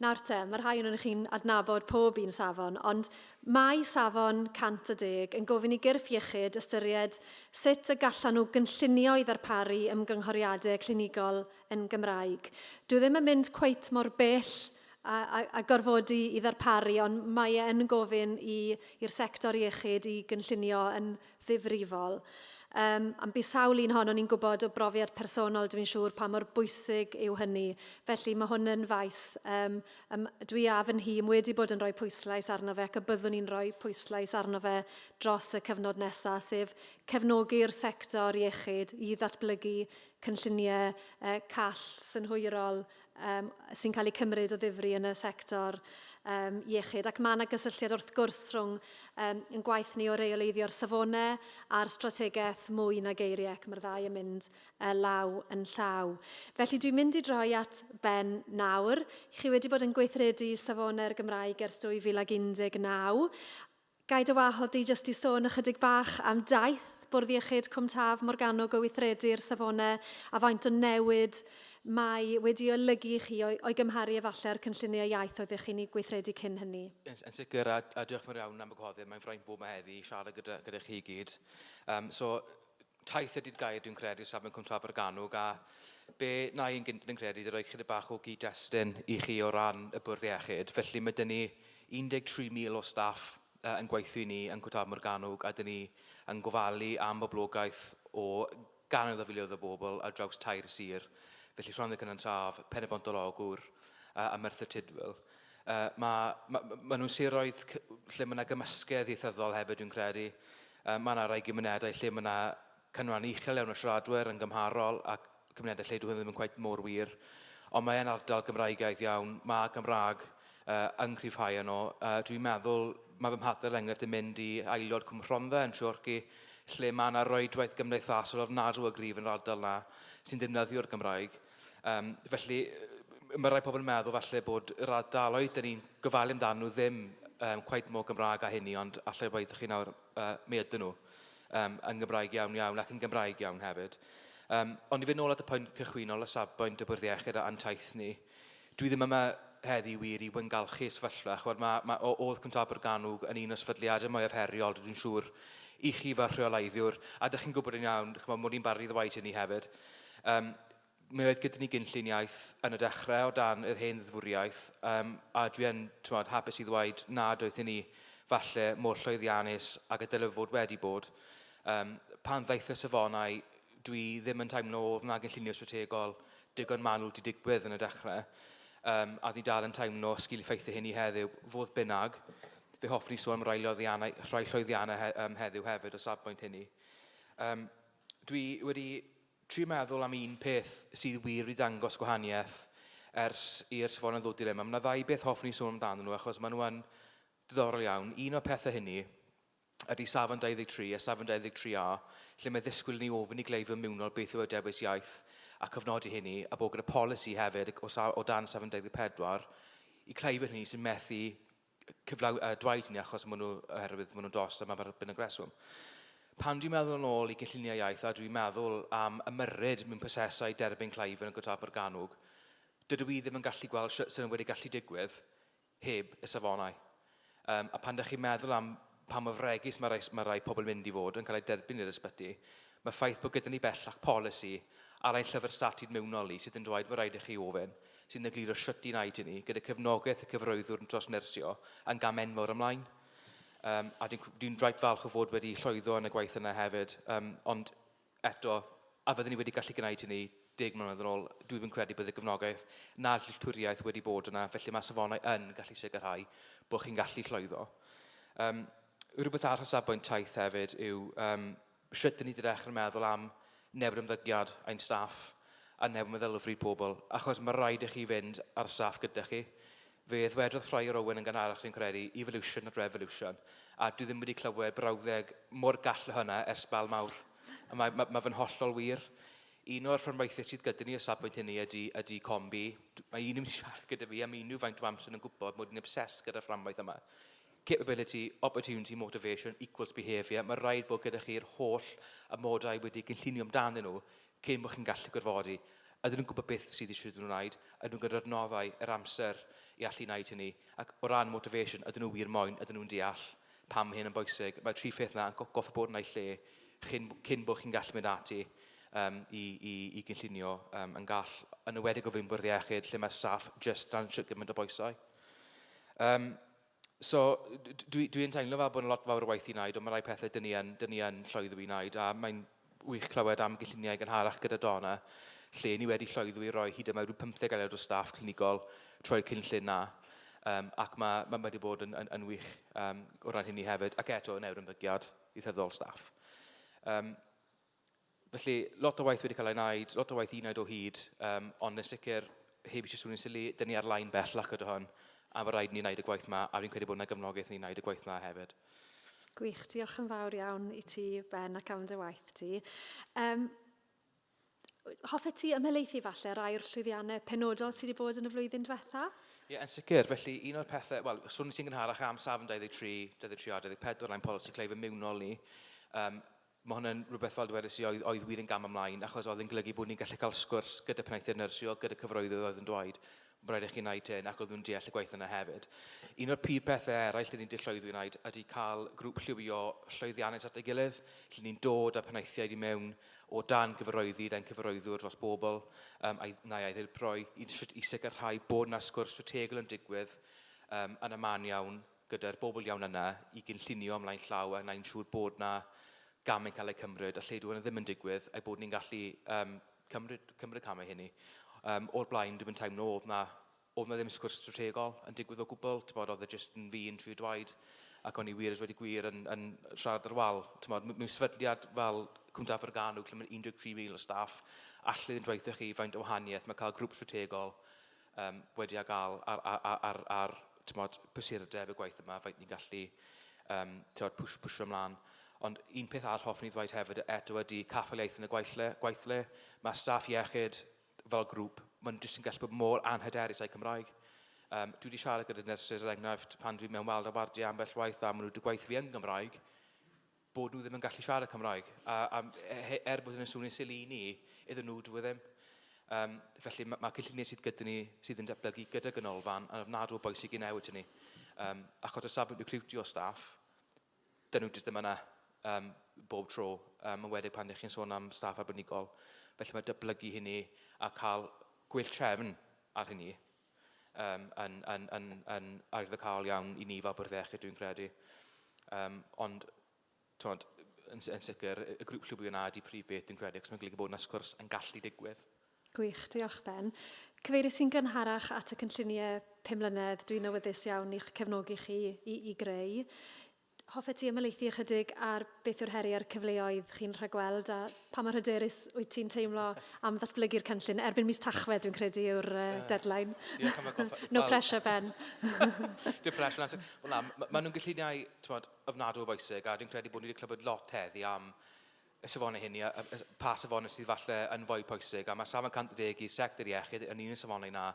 Nawr te, mae rhai o'n chi'n adnabod pob un safon, ond mae safon 110 yn gofyn i gyrff iechyd ystyried sut y gallan nhw gynllunio i ddarparu ymgynghoriadau clinigol yn Gymraeg. Dyw ddim yn mynd cweit mor bell a, a, a gorfodi i ddarparu, ond mae e yn gofyn i'r sector iechyd i gynllunio yn ddifrifol. Um, am bu sawl un hon, o'n i'n gwybod o brofiad personol, dwi'n siŵr pa mor bwysig yw hynny. Felly mae hwn yn faes, um, um, dwi a fy nhîm wedi bod yn rhoi pwyslais arno fe ac y byddwn ni'n rhoi pwyslais arno fe dros y cyfnod nesaf, sef cefnogi'r sector iechyd i ddatblygu cynlluniau call synhwyrol sy'n cael eu cymryd o ddifri yn y sector iechyd. Ac mae yna gysylltiad wrth gwrs rhwng yn gwaith ni o reoleiddio'r safonau a'r strategaeth mwy na geiriau ac mae'r ddau yn mynd law yn llaw. Felly dwi'n mynd i droi at Ben nawr. Chi wedi bod yn gweithredu safonau'r Gymraeg ers 2019 Gai dy wahodd di jyst i sôn ychydig bach am daith Bwrdd Iechyd Cwm Taf Morgannwg o weithredu'r safone a faint o newid mae wedi olygu i chi o'i gymharu efallai â'r cynlluniau iaith oeddech chi'n eu gweithredu cyn hynny? Yn, yn sicr, a, a diolch yn fawr iawn am y gwahoddiad. Mae'n fraint bod yma heddi i siarad gyda, gyda chi i gyd. Um, so, taith y Didgair dwi'n credu safon Cwm Abergannwg a be na i'n gynt yn credu i roi chyda bach o gyd-destun i chi o ran y bwrdd iechyd. Felly mae dyn ni 13,000 o staff uh, yn gweithio i ni yn Cwm Abergannwg a dyn ni yn gofalu am boblogaeth o gannoedd o filoedd o bobl ar draws tair sir. Felly Rhondda Cynon Taf, Pen-y-bont-yr-Ogwr uh, a Merthyr Tudful. Yy ma' ma' ma' ma' nhw'n siroedd c- lle ma' 'na gymysgedd ieithyddol hefyd dwi'n credu. Yy ma' 'na rai gymunedau lle ma' 'na canran uchel iawn o siaradwyr yn gymharol ac cymunedau lle dyw hwn ddim yn cweit mor wir. Ond mae e'n ardal Gymraegaidd iawn, ma' Gymraeg yy yn cryfhau yno. Yy dwi'n meddwl, ma' fy mhartner er enghraifft yn mynd i aelod Cwm Rhondda yn Nhreorci lle ma' 'na rwydwaith gymdeithasol ofnadw o gryf yn yr ardal 'na sy'n defnyddio'r Gymraeg. Um, felly, mae rhai pobl yn meddwl falle bod yr ardaloedd dyn ni'n gofalu amdano nhw ddim um, cweit mor Gymraeg â hynny, ond allai bod chi nawr, uh, mi ydyn nhw, um, yn Gymraeg iawn iawn ac yn Gymraeg iawn hefyd. Um, ond i fynd nôl at y pwynt cychwynol o safbwynt y bwrdd iechyd a'n taith ni, Dwi ddim yma heddi wir i wyngalchu sefyllfa, ch'mod, ma', ma', o- o'dd Cwm Tabor Gannwg yn un o sefydliade mwyaf heriol, dw i'n siŵr, i chi fel rheoleiddiwr, a 'dych chi'n gwybod yn iawn, ch'mod, mod i'n barod i ddweud hynny hefyd. Yym, mi oedd gyda ni gynllun iaith yn y dechrau o dan yr hen ddeddfwriaeth, yym, a dwi yn, t'mod, hapus i ddweud nad oedd hynny falle mor llwyddiannus ag y dylai fod wedi bod. Yym, pan ddaeth y safonau, dwi ddim yn teimlo oedd 'na gynllunio strategol digon manwl 'di digwydd yn y dechrau, um, a dwi dal yn teimlo sgil effeithio hyn i heddiw. Fodd bynnag, fe hoffwn i sôn am rai, rhai llwyddiannau he, um, heddiw hefyd o safbwynt hynny. Um, dwi wedi tri meddwl am un peth sydd wir wedi dangos gwahaniaeth ers i'r safonau ddod i'r yma. Mae yna ddau beth hoffwn i sôn amdanyn nhw achos maen nhw'n diddorol iawn. Un o'r pethau hynny ydy safon 23 a safon 23A, lle mae ddisgwyl i ni ofyn i gleifion mewnol beth yw eu dewis iaith a cofnodi hynny, a bod gyda polisi hefyd o, sa, o dan safon 24 i cleifion hynny sy'n methu cyflaw, uh, dweud hynny achos maen nhw, oherwydd maen nhw'n dost a mae'n fath byn y greswm. Pan dwi'n meddwl yn ôl i gynlluniau iaith a dwi'n meddwl am ymyrryd mewn prosesau derbyn cleifion yn Gotal Morgannwg, dydw i ddim yn gallu gweld sut sy'n wedi gallu digwydd heb y safonau. Yym, a pan dych chi'n meddwl am pa mor fregus mae rhai, mae rhai pobl yn mynd i fod yn cael eu derbyn i'r ysbyty, mae'r ffaith bod gyda ni bellach polisi ar ein llyfr statud mewnol ni sydd yn dweud fod rhaid i chi ofyn, sy'n egluro shwt un ai ti ni, gyda cefnogaeth y cyfarwyddwr yn tros nyrsio, yn gam enfawr ymlaen. Yym, a dwi'n dwi rhaid falch o fod wedi llwyddo yn y gwaith yna hefyd. Yym, ond eto, a fydden ni wedi gallu gwneud hynny deg mlynedd yn ôl, dwi ddim yn credu bod y gefnogaeth na'r dealltwriaeth wedi bod yna, felly mae safonau yn gallu sicrhau bod chi'n gallu llwyddo. Um, rhywbeth arall o safbwynt taith hefyd yw um, sut dyn ni wedi dechrau meddwl am newid ymddygiad ein staff a newid meddylfryd pobl, achos mae rhaid i chi fynd ar staff gyda chi. Fe ddwedodd Friar Owen yn gynharach dwi'n credu, evolution not revolution, a dwi ddim wedi clywed brawddeg mor gall na hwnna ers Sbel Mawr. A mae, mae, mae fe'n hollol wir. Un o'r fframwaithiau sydd gyda ni o safbwynt hynny ydy, ydy Combi. Mae un yn siarad gyda fi am unrhyw faint o amser yn gwybod mod i'n obsessed gyda'r fframwaith yma. Capability, opportunity, motivation equals behaviour. Mae rhaid bod gyda chi'r holl amodau wedi gynllunio amdanyn nhw cyn bod chi'n gallu gorfodi, ydyn nhw'n gwybod beth sydd eisiau iddyn nhw wneud, ydyn nhw gyda'r adnoddau, yr amser i allu wneud hynny, ac o ran motivation, ydyn nhw wir moyn, ydyn nhw'n deall pam mae hyn yn bwysig. Mae'r tri pheth yna yn go goffa bod yn eu lle chyn, cyn bod chi'n gallu mynd ati um, i, i, i gynllunio um, yn gall, yn ywedig o fyn bwrdd iechyd, lle mae staff just dan siwt gymaint o boesau. Um, So, dwi, dwi yn teimlo fel bod yn lot fawr o waith i wneud, ond mae rhai pethau dyn ni yn, dyn ni yn llwyddo i wneud, a mae'n wych clywed am gylluniau gynharach gyda Donna, lle ni wedi llwyddo i roi hyd yma rhyw 50 aelod o staff clinigol trwy'r cynllun na, um, ac mae, mae wedi bod yn, yn, yn wych um, o ran hynny hefyd, ac eto yn ewr ymddygiad i rhyddol staff. Um, Felly, lot o waith wedi cael ei wneud, lot o waith i wneud o hyd, um, ond yn sicr, heb eisiau swnio'n sili, dyn ni ar lain bell ac ydy hwn, a fe rhaid ni wneud y gwaith yma, a fi'n credu bod yna gefnogaeth ni wneud y gwaith yma hefyd. Gwych, diolch yn fawr iawn i ti, Ben, ac am dy waith ti. Um, hoffet ti ymhelaethu falle rai o'r llwyddiannau penodol sydd wedi bod yn y flwyddyn diwetha? Ie, yeah, yn sicr. Felly, un o'r pethau, wel, swn i'n gynharach am safn 23, 23 a 24, ein polisi cleif ymiwnol ni. Um, Mae hwn yn rhywbeth, fel dwedais i, oedd, oedd wir yn gam ymlaen, achos oedd yn golygu bod ni'n gallu cael sgwrs gyda penaethiaid nyrsio, gyda cyfroeddydd oedd yn dweud, mae'n rhaid i chi wneud hyn, ac oedd nhw'n deall y gwaith yna hefyd. Un o'r prif pethau eraill dyn ni wedi llwyddo i wneud ydy cael grŵp lliwio llwyddiannus at ei gilydd, lle ni'n dod â penaethiaid i mewn o dan gyfarwyddyd ein cyfarwyddwr dros bobl um, a'i, neu a'i ddirprwy, i, i sicrhau bod yna sgwrs strategol yn digwydd um, yn y man iawn, gyda'r bobl iawn yna i gynllunio ymlaen llaw a wneud yn siŵr bod yna gamau yn cael eu cymryd a lle dyw hwnna ddim yn digwydd a'i bod ni'n gallu um, cymryd, cymryd y camau hynny. Um, o'r blaen, dwi'n mynd teimlo oedd yna oedd yna ddim sgwrs strategol yn digwydd o gwbl, ti'n bod, oedd e jyst yn fi yn trio dwaid ac o'n i wir wedi gwir yn, yn siarad ar wal. Ti'n bod, mewn sefydliad fel Cwnt Aberganw, lle mae'n 13,000 o staff, allai ddim dweithio chi faint o wahaniaeth mae cael grŵp strategol um, wedi a gael ar, ar, ar, ar, ar tymod, prysurdeb y gwaith yma, faint ni'n gallu um, tymod, pwys, pwysio ymlaen. Ond un peth arall hoffwn i ddweud hefyd eto ydy caffaliaeth yn y gweithle. gweithle. Mae staff iechyd fel grŵp, mae'n jyst yn gallu bod mor anhyderus â'i Cymraeg. Um, dwi wedi siarad gyda nyrsys, er enghraifft, pan dwi'n mewn weld a wardiau ambell waith a maen nhw wedi gweithio fi yn Gymraeg, bod nhw ddim yn gallu siarad Cymraeg. A, a e, er bod hynny'n swnio'n sili i ni, iddyn nhw dwi e ddim. Um, felly mae, ma cynlluniau sydd gyda ni sydd yn datblygu gyda ganolfan yn ofnadw o bwysig i newid hynny. Um, achos o safbwynt recriwtio staff, dyn nhw jyst ddim yna um, bob tro, um, yn wedi pan ydych chi'n sôn am staff arbenigol. Felly mae dyblygu hynny a cael gwell trefn ar hynny um, yn, yn, yn, yn arddycaol iawn i ni fel bwrdd iechyd, dwi'n credu. Um, ond, tywed, yn, yn sicr, y grŵp llwybio yna ydy prif beth, dwi'n credu, ac mae'n golygu bod yna sgwrs yn gallu digwydd. Gwych, diolch Ben. Cyfeirio sy'n gynharach at y cynlluniau 5 mlynedd, dwi'n awyddus iawn i'ch cefnogi chi i, i greu. Hoffet ti ymhelaethu ychydig ar beth yw'r heriau a'r cyfleoedd chi'n rhagweld a pa mor hyderus wyt ti'n teimlo am ddatblygu'r cynllun? Erbyn mis Tachwedd, dwi'n credu, yw'r uh, deadline. Diolch am y goffa. no pressure, Ben. Dim pressure, Nancy. Wel na, maen nhw'n gynlluniau tywed, ofnadw o bwysig a dwi'n credu bod ni wedi clywed lot heddi am y safonau hynny, a, a, a pa safonau sydd falle yn fwy pwysig, a mae safon 110 i'r sector iechyd yn un o'r safonau na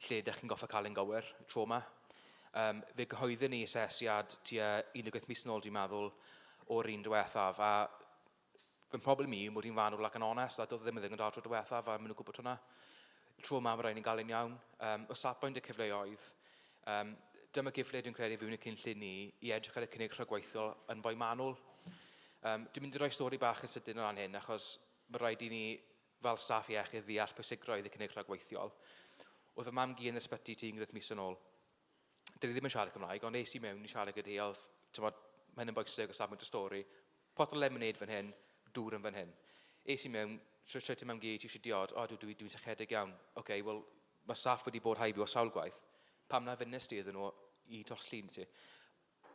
lle ydych chi'n goffa cael ein gywir tro yma. Um, fe gyhoeddwn ni asesiad tua 18 mis yn ôl, dwi'n meddwl, o'r un diwethaf, a fy mhroblem i yw mod i'n fanwl ac yn onest, a doedd e ddim yn ddigon da tro diwethaf, a maen nhw'n gwybod hwnna. Tro ma, mae rhaid ni'n gael e'n iawn. Um, o safbwynt y cyfleoedd, um, dyma gyfle dwi'n credu fi'n y cynllun ni i edrych ar y cynnig rhagweithiol yn fwy manwl. Um, dwi'n mynd i roi stori bach yn sydyn o ran hyn, achos mae rhaid i ni fel staff iechyd ddeall pwysigrwydd y cynnig rhagweithiol. Oedd y mam gi yn ysbyty ti ynghynt mis yn ôl. dyn ni ddim yn siarad Cymraeg, ond es i mewn i siarad gyda hi, oedd, tymod, mae hyn yn boesig o safbwynt y stori, pot o lemonade fan hyn, dŵr yn fan hyn. Es i mewn, so sut i mewn gyd, ti eisiau diod, o, dwi'n dwi, dwi sychedig iawn. Oce, okay, wel, mae staff wedi bod haibio sawl gwaith. Pam na fynnes ti iddyn nhw i toslun ti?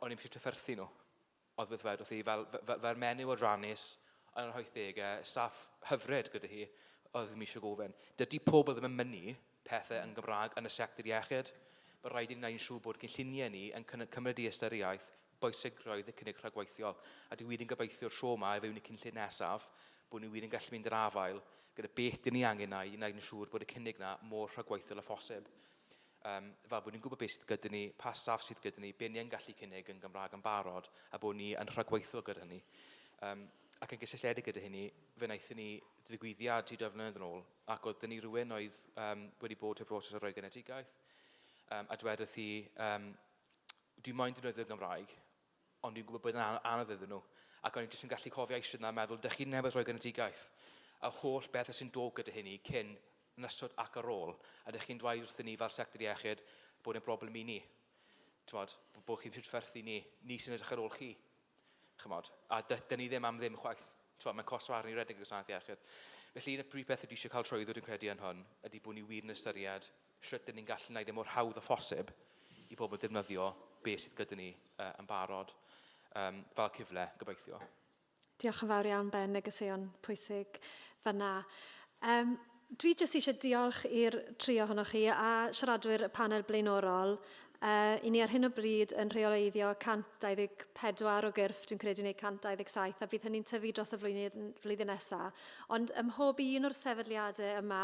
O'n i'n eisiau trafferthu nhw. Oedd beth ddwedodd hi, fel, fel, fel menyw o Ranis yn yr hoithdegau, staff hyfryd gyda hi, oedd ddim eisiau gofyn. Dydy pobl ddim yn mynnu pethau yn Gymraeg yn y sector iechyd. Mae rhaid i ni wneud yn siŵr bod cynlluniau ni yn cymryd i ystyriaeth bwysigrwydd y cynnig rhagweithiol, a dwi wir yn gobeithio tro ma i fewn i cynllun nesaf bod ni wir yn gallu mynd i'r afael gyda beth dyn ni angen a'i wneud yn siŵr bod y cynnig yna mor rhagweithiol â phosib. Yym, fel bod ni'n gwybod beth sydd gyda ni, pa staff sydd gyda ni, be ni yn gallu cynnig yn Gymraeg yn barod, a bod ni yn rhagweithiol gyda hynny. Um, ac yn gysylltiedig gyda hynny, fe wnaethon ni ddigwyddiad i dwy flynedd yn ôl, ac oedd dyn ni rhywun oedd um, wedi bod heb broses ar roi genedigaeth, um, a dwedodd hi, um, dwi'n moyn defnyddio Gymraeg, Ond dwi'n gwybod bod e'n anodd iddyn nhw. Ac o'n i jyst yn gallu cofio eistedd yna a meddwl, dych chi newydd roi genedigaeth, a holl bethau sy'n dod gyda hynny, cyn, yn ystod ac ar ôl, a dych chi'n dweud wrthyn ni fel sector iechyd bod e'n broblem i ni. Chymod, bod chi'n prydferthu ni, ni sy'n edrych ar ôl chi. Chymod, a dyn ni ddim am ddim chwaith. Chymod, mae'n costo arni redeg y gwasanaeth iechyd. Felly, y prif beth ydy eisiau cael trwyddwyd yn credu yn hwn, ydy bod ni wir yn ystyried Shwt dyn ni'n gallu gwneud e mor hawdd â phosib i bobl ddefnyddio be sydd gyda ni uh, yn barod um, fel cyfle, gobeithio. Diolch yn fawr iawn, Ben, negeseuon pwysig fyna. Um, dwi jyst eisiau diolch i'r tri ohonoch chi a siaradwyr y panel blaenorol. Uh, I ni ar hyn o bryd yn rheoleiddio 124 o gyrff, dwi'n credu, neu 127, a fydd hynny'n tyfu dros y flwyddyn, flwyddyn nesaf. Ond ym mhob un o'r sefydliadau yma,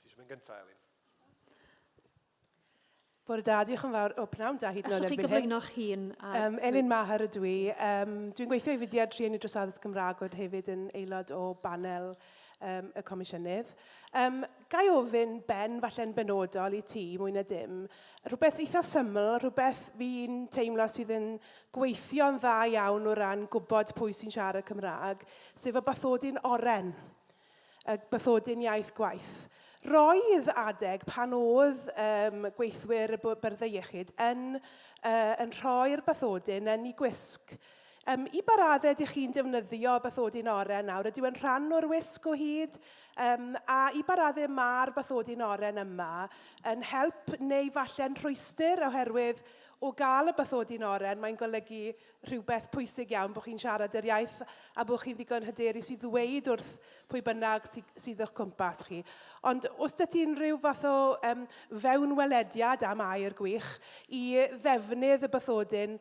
Ti eisiau mynd gyntaf, Elin? Bore da, diolch yn fawr. O, pnawn da hyd yn oed erbyn hyn. Allwch chi gyflwyno'ch hun? A... Um, Elin Maher ydw i. Um, dwi'n gweithio i fudiad rhieni dros addysg Gymraeg oedd hefyd yn aelod o banel um, y comisiynydd. Um, gai ofyn, Ben, falle'n benodol i ti, mwy na dim, rhywbeth eitha syml, rhywbeth fi'n teimlo sydd yn gweithio'n dda iawn o ran gwybod pwy sy'n siarad Cymraeg, sef y bathodyn oren. y bathodyn iaith gwaith. Roedd adeg pan oedd um, gweithwyr y byrddau iechyd yn, uh, yn rhoi'r bathodyn yn ei gwisg. Um, I baradde ydych chi'n defnyddio bathodyn oren nawr? Ydyw yn rhan o'r wisg o hyd? Um, a i baradde mae'r bathodyn oren yma yn help neu falle'n rhwystr oherwydd o gael y bathodyn oren mae'n golygu rhywbeth pwysig iawn bod chi'n siarad yr iaith a bod chi'n ddigon hyderus i ddweud wrth pwy bynnag sy, sydd o'ch cwmpas chi. Ond os da ti'n rhyw fath o um, fewnwelediad am air gwych i ddefnydd y bythodyn,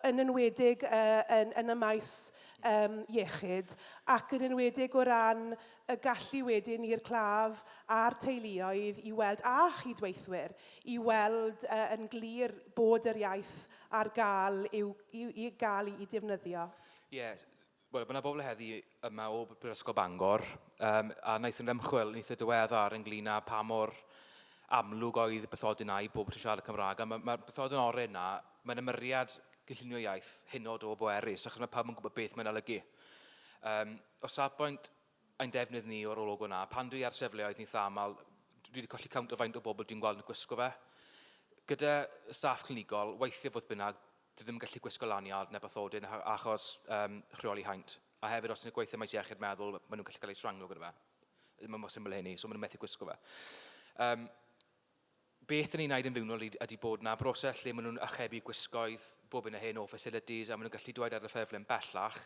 yn enwedig uh, yn, yn y maes um, iechyd, ac yn enwedig o ran y gallu wedyn i'r claf a'r teuluoedd i weld, a chydweithwyr, i weld uh, yn glir bod yr iaith ar gael i'w, i'w, i gael i'u defnyddio. Ie, wel, mae yna bobl heddi yma o Brifysgol Bangor, um, a wnaethon nhw ymchwil yn eitha diweddar ynglyn â pa mor amlwg oedd bythodyn na i bobl sy'n siarad y Cymraeg. A mae'r ma, ma bythodyn orau yna, mae'n ymyriad gynllunio iaith hynod o bwerus, achos mae pawb yn gwybod beth mae'n olygu. Um, o safbwynt ein defnydd ni o'r logo 'na. Pan dwi ar sefleoedd yn eitha aml, dwi wedi colli count o faint o bobl dwi'n gweld yn gwisgo fe. Gyda staff clinigol, weithiau fodd bynnag, dwi ddim yn gallu gwisgo lanyard neu bathodyn achos um, rheoli haint. A hefyd, os ti'n gweithio maes iechyd meddwl, maen nhw'n gallu cael eu sranglo gyda fe. Mae mor syml hynny, so maen nhw'n methu gwisgo fe. Um, Beth 'da ni'n neud yn fewnol ydi bod 'na broses lle ma' nhw'n archebu gwisgoedd bob hyn a hyn o facilities a ma' nhw'n gallu dweud ar y ffurflen bellach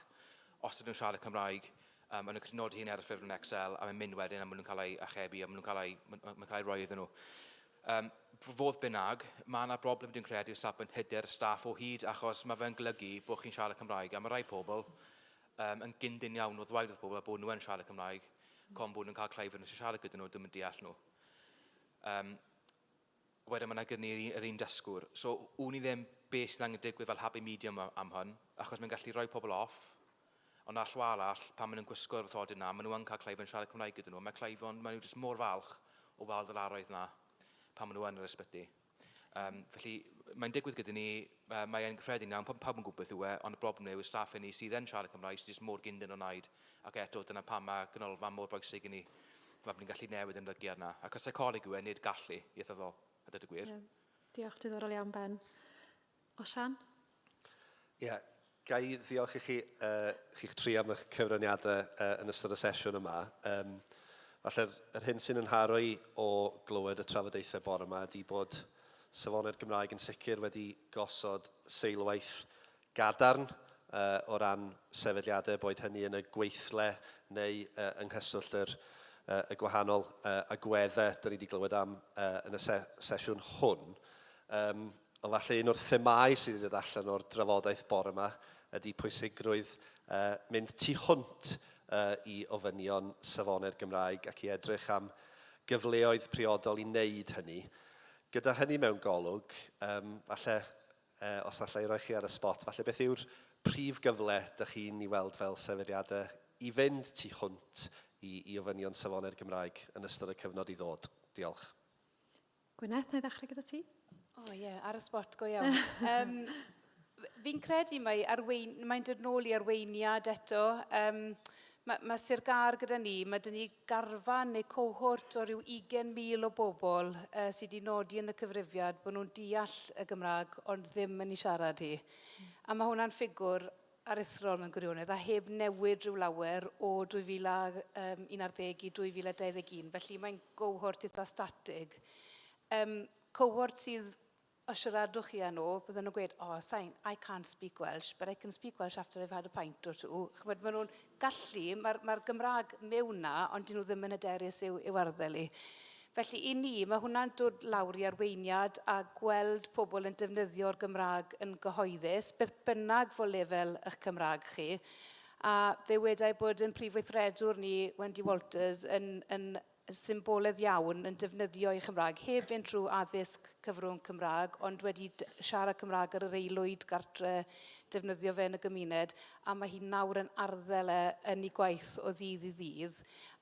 os ydyn nhw'n siarad y Cymraeg yym a nhw'n gallu nodi hyn ar y ffurflen Excel a mae'n mynd wedyn a ma' nhw'n cael eu archebu a ma' nhw'n cael eu... ma' ma' ma'n cael ei roi iddyn nhw. Yym, f- fodd bynnag, ma' 'na broblem dwi'n credu o safbwynt hyder staff o hyd achos ma' fe'n golygu bod chi'n siarad y Cymraeg a ma' rai pobl yym yn gyndyn iawn o ddweud wrth bobl a bod nhw yn siarad y Cymraeg con bod nhw'n cael cloi fod nhw sy'n siarad gyda nhw ddim yn deall nhw. Yym, wedyn ma' 'na gyn ni yr un dysgwr. So, wn i ddim be sy'n angen digwydd fel happy medium a- am hwn, achos mae'n gallu rhoi pobl off, ond ar llaw arall, pan maen nhw'n gwisgo'r wrthodyn 'na, maen nhw yn cael cleifion siarad Cymraeg gyda nhw, a mae cleifion, maen nhw jyst mor falch o weld yr arwydd 'na pan maen nhw yn yr ysbyty. Um, felly, mae'n digwydd gyda ni, uh, mae e'n gyffredin iawn, pawb yn gwybod beth yw e, ond y broblem yw y staff hynny sydd yn siarad Cymraeg sydd jyst mor gyndyn o wneud, ac eto, dyna pam mae ganolfan mor bwysig i ni. Mae ni'n gallu newid ymddygiad na. Ac y seicoleg yw e, nid gallu, ieithyddol, a dweud y gwir. Yeah. Diolch, diddorol iawn, Ben. Osian? Ie, yeah. ga i ddiolch i chi, uh, chi'ch tri am eich cyfraniadau uh, yn ystod y sesiwn yma. Um, Falle'r yr hyn sy'n ynharo i o glywed y trafodaethau bore yma ydy bod safonau'r Gymraeg yn sicr wedi gosod seilwaith gadarn o ran sefydliadau, boed hynny yn y gweithle neu yng nghyswllt yr y gwahanol agweddau dan ni wedi glywed am yn y sesiwn hwn. Yym, ond falle un o'r themâu sydd wedi dod allan o'r drafodaeth bore yma ydy pwysigrwydd mynd tu hwnt i ofynion safonau'r Gymraeg ac i edrych am gyfleoedd priodol i wneud hynny. Gyda hynny mewn golwg, yym, falle Yy, os alla i roi chi ar y sbot, falle beth yw'r prif gyfle dych chi'n i weld fel sefydliadau i fynd tu hwnt i i ofynion safonau'r Gymraeg yn ystod y cyfnod i ddod? Diolch. Gwyneth, na i ddechrau gyda ti. O ie, yeah, ar y sbot, go iawn. um, fi'n credu mae arwein, mae'n dod nôl i arweiniad eto. Um, mae, mae Sir Gar gyda ni, mae dyn ni garfan neu cohort o ryw 20,000 o bobl yy sy 'di nodi yn y cyfrifiad bod nhw'n deall y Gymraeg ond ddim yn ei siarad hi. A ma' hwnna'n ffigwr aruthrol mewn gwirionedd a heb newid rhyw lawer o 2011 i 2021, felly mae'n gohort itha statig. Yym cohort sydd Os siaradwch chi â nhw, bydden nhw'n gweud, oh, sain, I can't speak Welsh, but I can speak Welsh after I've had a pint or two. Chymod, maen nhw'n gallu, mae'r mae Gymraeg mewn na, ond dyn nhw ddim yn hyderus i'w, i'w arddel i. Felly i ni, mae hwnna'n dod lawr i arweiniad a gweld pobl yn defnyddio'r Gymraeg yn gyhoeddus, beth bynnag fo lefel eich Cymraeg chi. A fe wedai bod yn prif weithredwr ni, Wendy Walters, yn, yn yn symboledd iawn yn defnyddio ei Chymraeg, heb fynd trwy addysg cyfrwng Cymraeg, ond wedi siarad Cymraeg ar yr aelwyd gartre, defnyddio fe yn y gymuned, a mae hi nawr yn arddel e yn ei gwaith o ddydd i ddydd.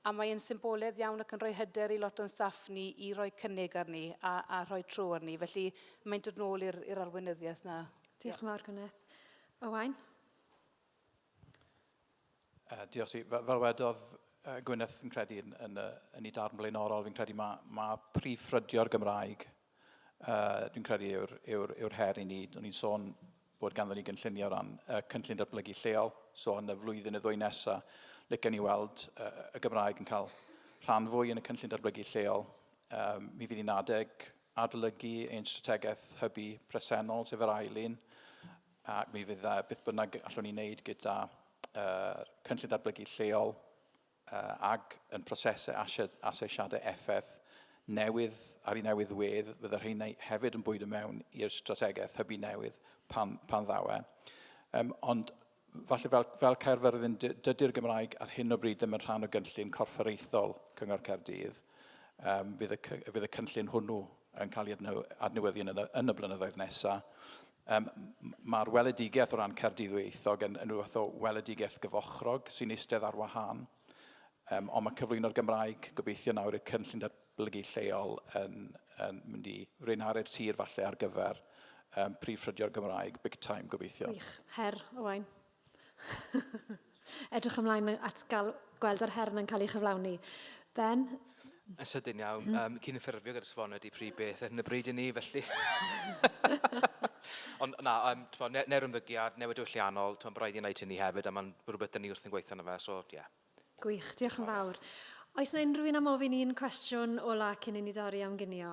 A mae e'n symboledd iawn ac yn rhoi hyder i lot o'n staff ni i roi cynnig arni a, a rhoi tro arni. Felly mae'n dod nôl i'r arweinyddiaeth na. Diolch yn fawr, Gwyneth. Owain? Uh, diolch ti. Fel, fel wedodd uh, Gwyneth yn credu yn, yn, uh, yn ei darn blaenorol, fi'n credu mae, ma prif ffrydio'r Gymraeg, uh, dwi'n credu yw'r yw yw her i ni. O'n i'n sôn bod ganddo ni gynllunio o ran uh, cynllun datblygu lleol, so yn y flwyddyn y ddwy nesaf, licen ni weld uh, y Gymraeg yn cael rhan fwy yn y cynllun datblygu lleol. Um, mi fydd hi'n adeg adolygu ein strategaeth hybu presennol, sef yr ail un, Ac mi fydd uh, beth bynnag allwn ni wneud gyda uh, cynllun datblygu lleol uh, ag yn prosesau asesiadau effaith newydd ar ei newydd wedd, fydd yr hyn hefyd yn bwyd y mewn i'r strategaeth hybu newydd pan, pan ddaw e. Um, ond falle fel, fel Caerfyrddin, dydy'r Gymraeg ar hyn o bryd ddim yn rhan o gynllun corfforaethol Cyngor Caerdydd. Um, fydd, y, fydd y cynllun hwnnw yn cael ei adnewyddu yn y, yn y blynyddoedd nesaf. Yym, mae'r weledigaeth o ran Caerdydd Ddwyieithog yn, yn rhywbeth o weledigaeth gyfochrog sy'n eistedd ar wahân. Um, ond mae cyflwyno'r Gymraeg, gobeithio nawr i'r cynllun datblygu lleol yn, yn mynd i fwynharu'r tir falle ar gyfer um, prif ffrydio'r Gymraeg, big time gobeithio. Wych, her, Owain. Edrych ymlaen at gael gweld yr her yna'n cael ei chyflawni. Ben? Yn sydyn iawn. Mm. Um, cyn ffurfio gyda safonau di pryd beth ar hyn y bryd i ni, felly... Ond na, um, tfo, ne, neu'r ymddygiad, newid diwylliannol, tfo, rhaid i wneud hynny hefyd, a mae'n rhywbeth dyn ni wrth yn gweithio yna fe, so, ie. Yeah. Gwych, diolch yn fawr. Oes yna unrhyw un am ofyn un cwestiwn ola cyn i ni dorri am gynio?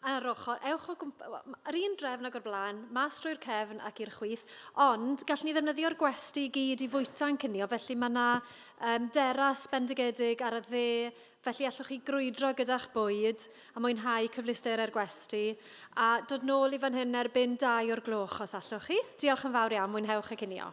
ar ochr, ewch o gwmp... yr un drefn ag o'r blaen, mas drwy'r cefn ac i'r chwith, ond gallwn ni ddefnyddio'r gwesty i gyd i fwyta'n cinio, felly mae yna um, deras bendigedig ar y dde, felly allwch chi grwydro gyda'ch bwyd a mwynhau cyfleusterau'r gwesty, a dod nôl i fan hyn erbyn dau o'r gloch os allwch chi. Diolch yn fawr iawn, mwynhewch y cinio.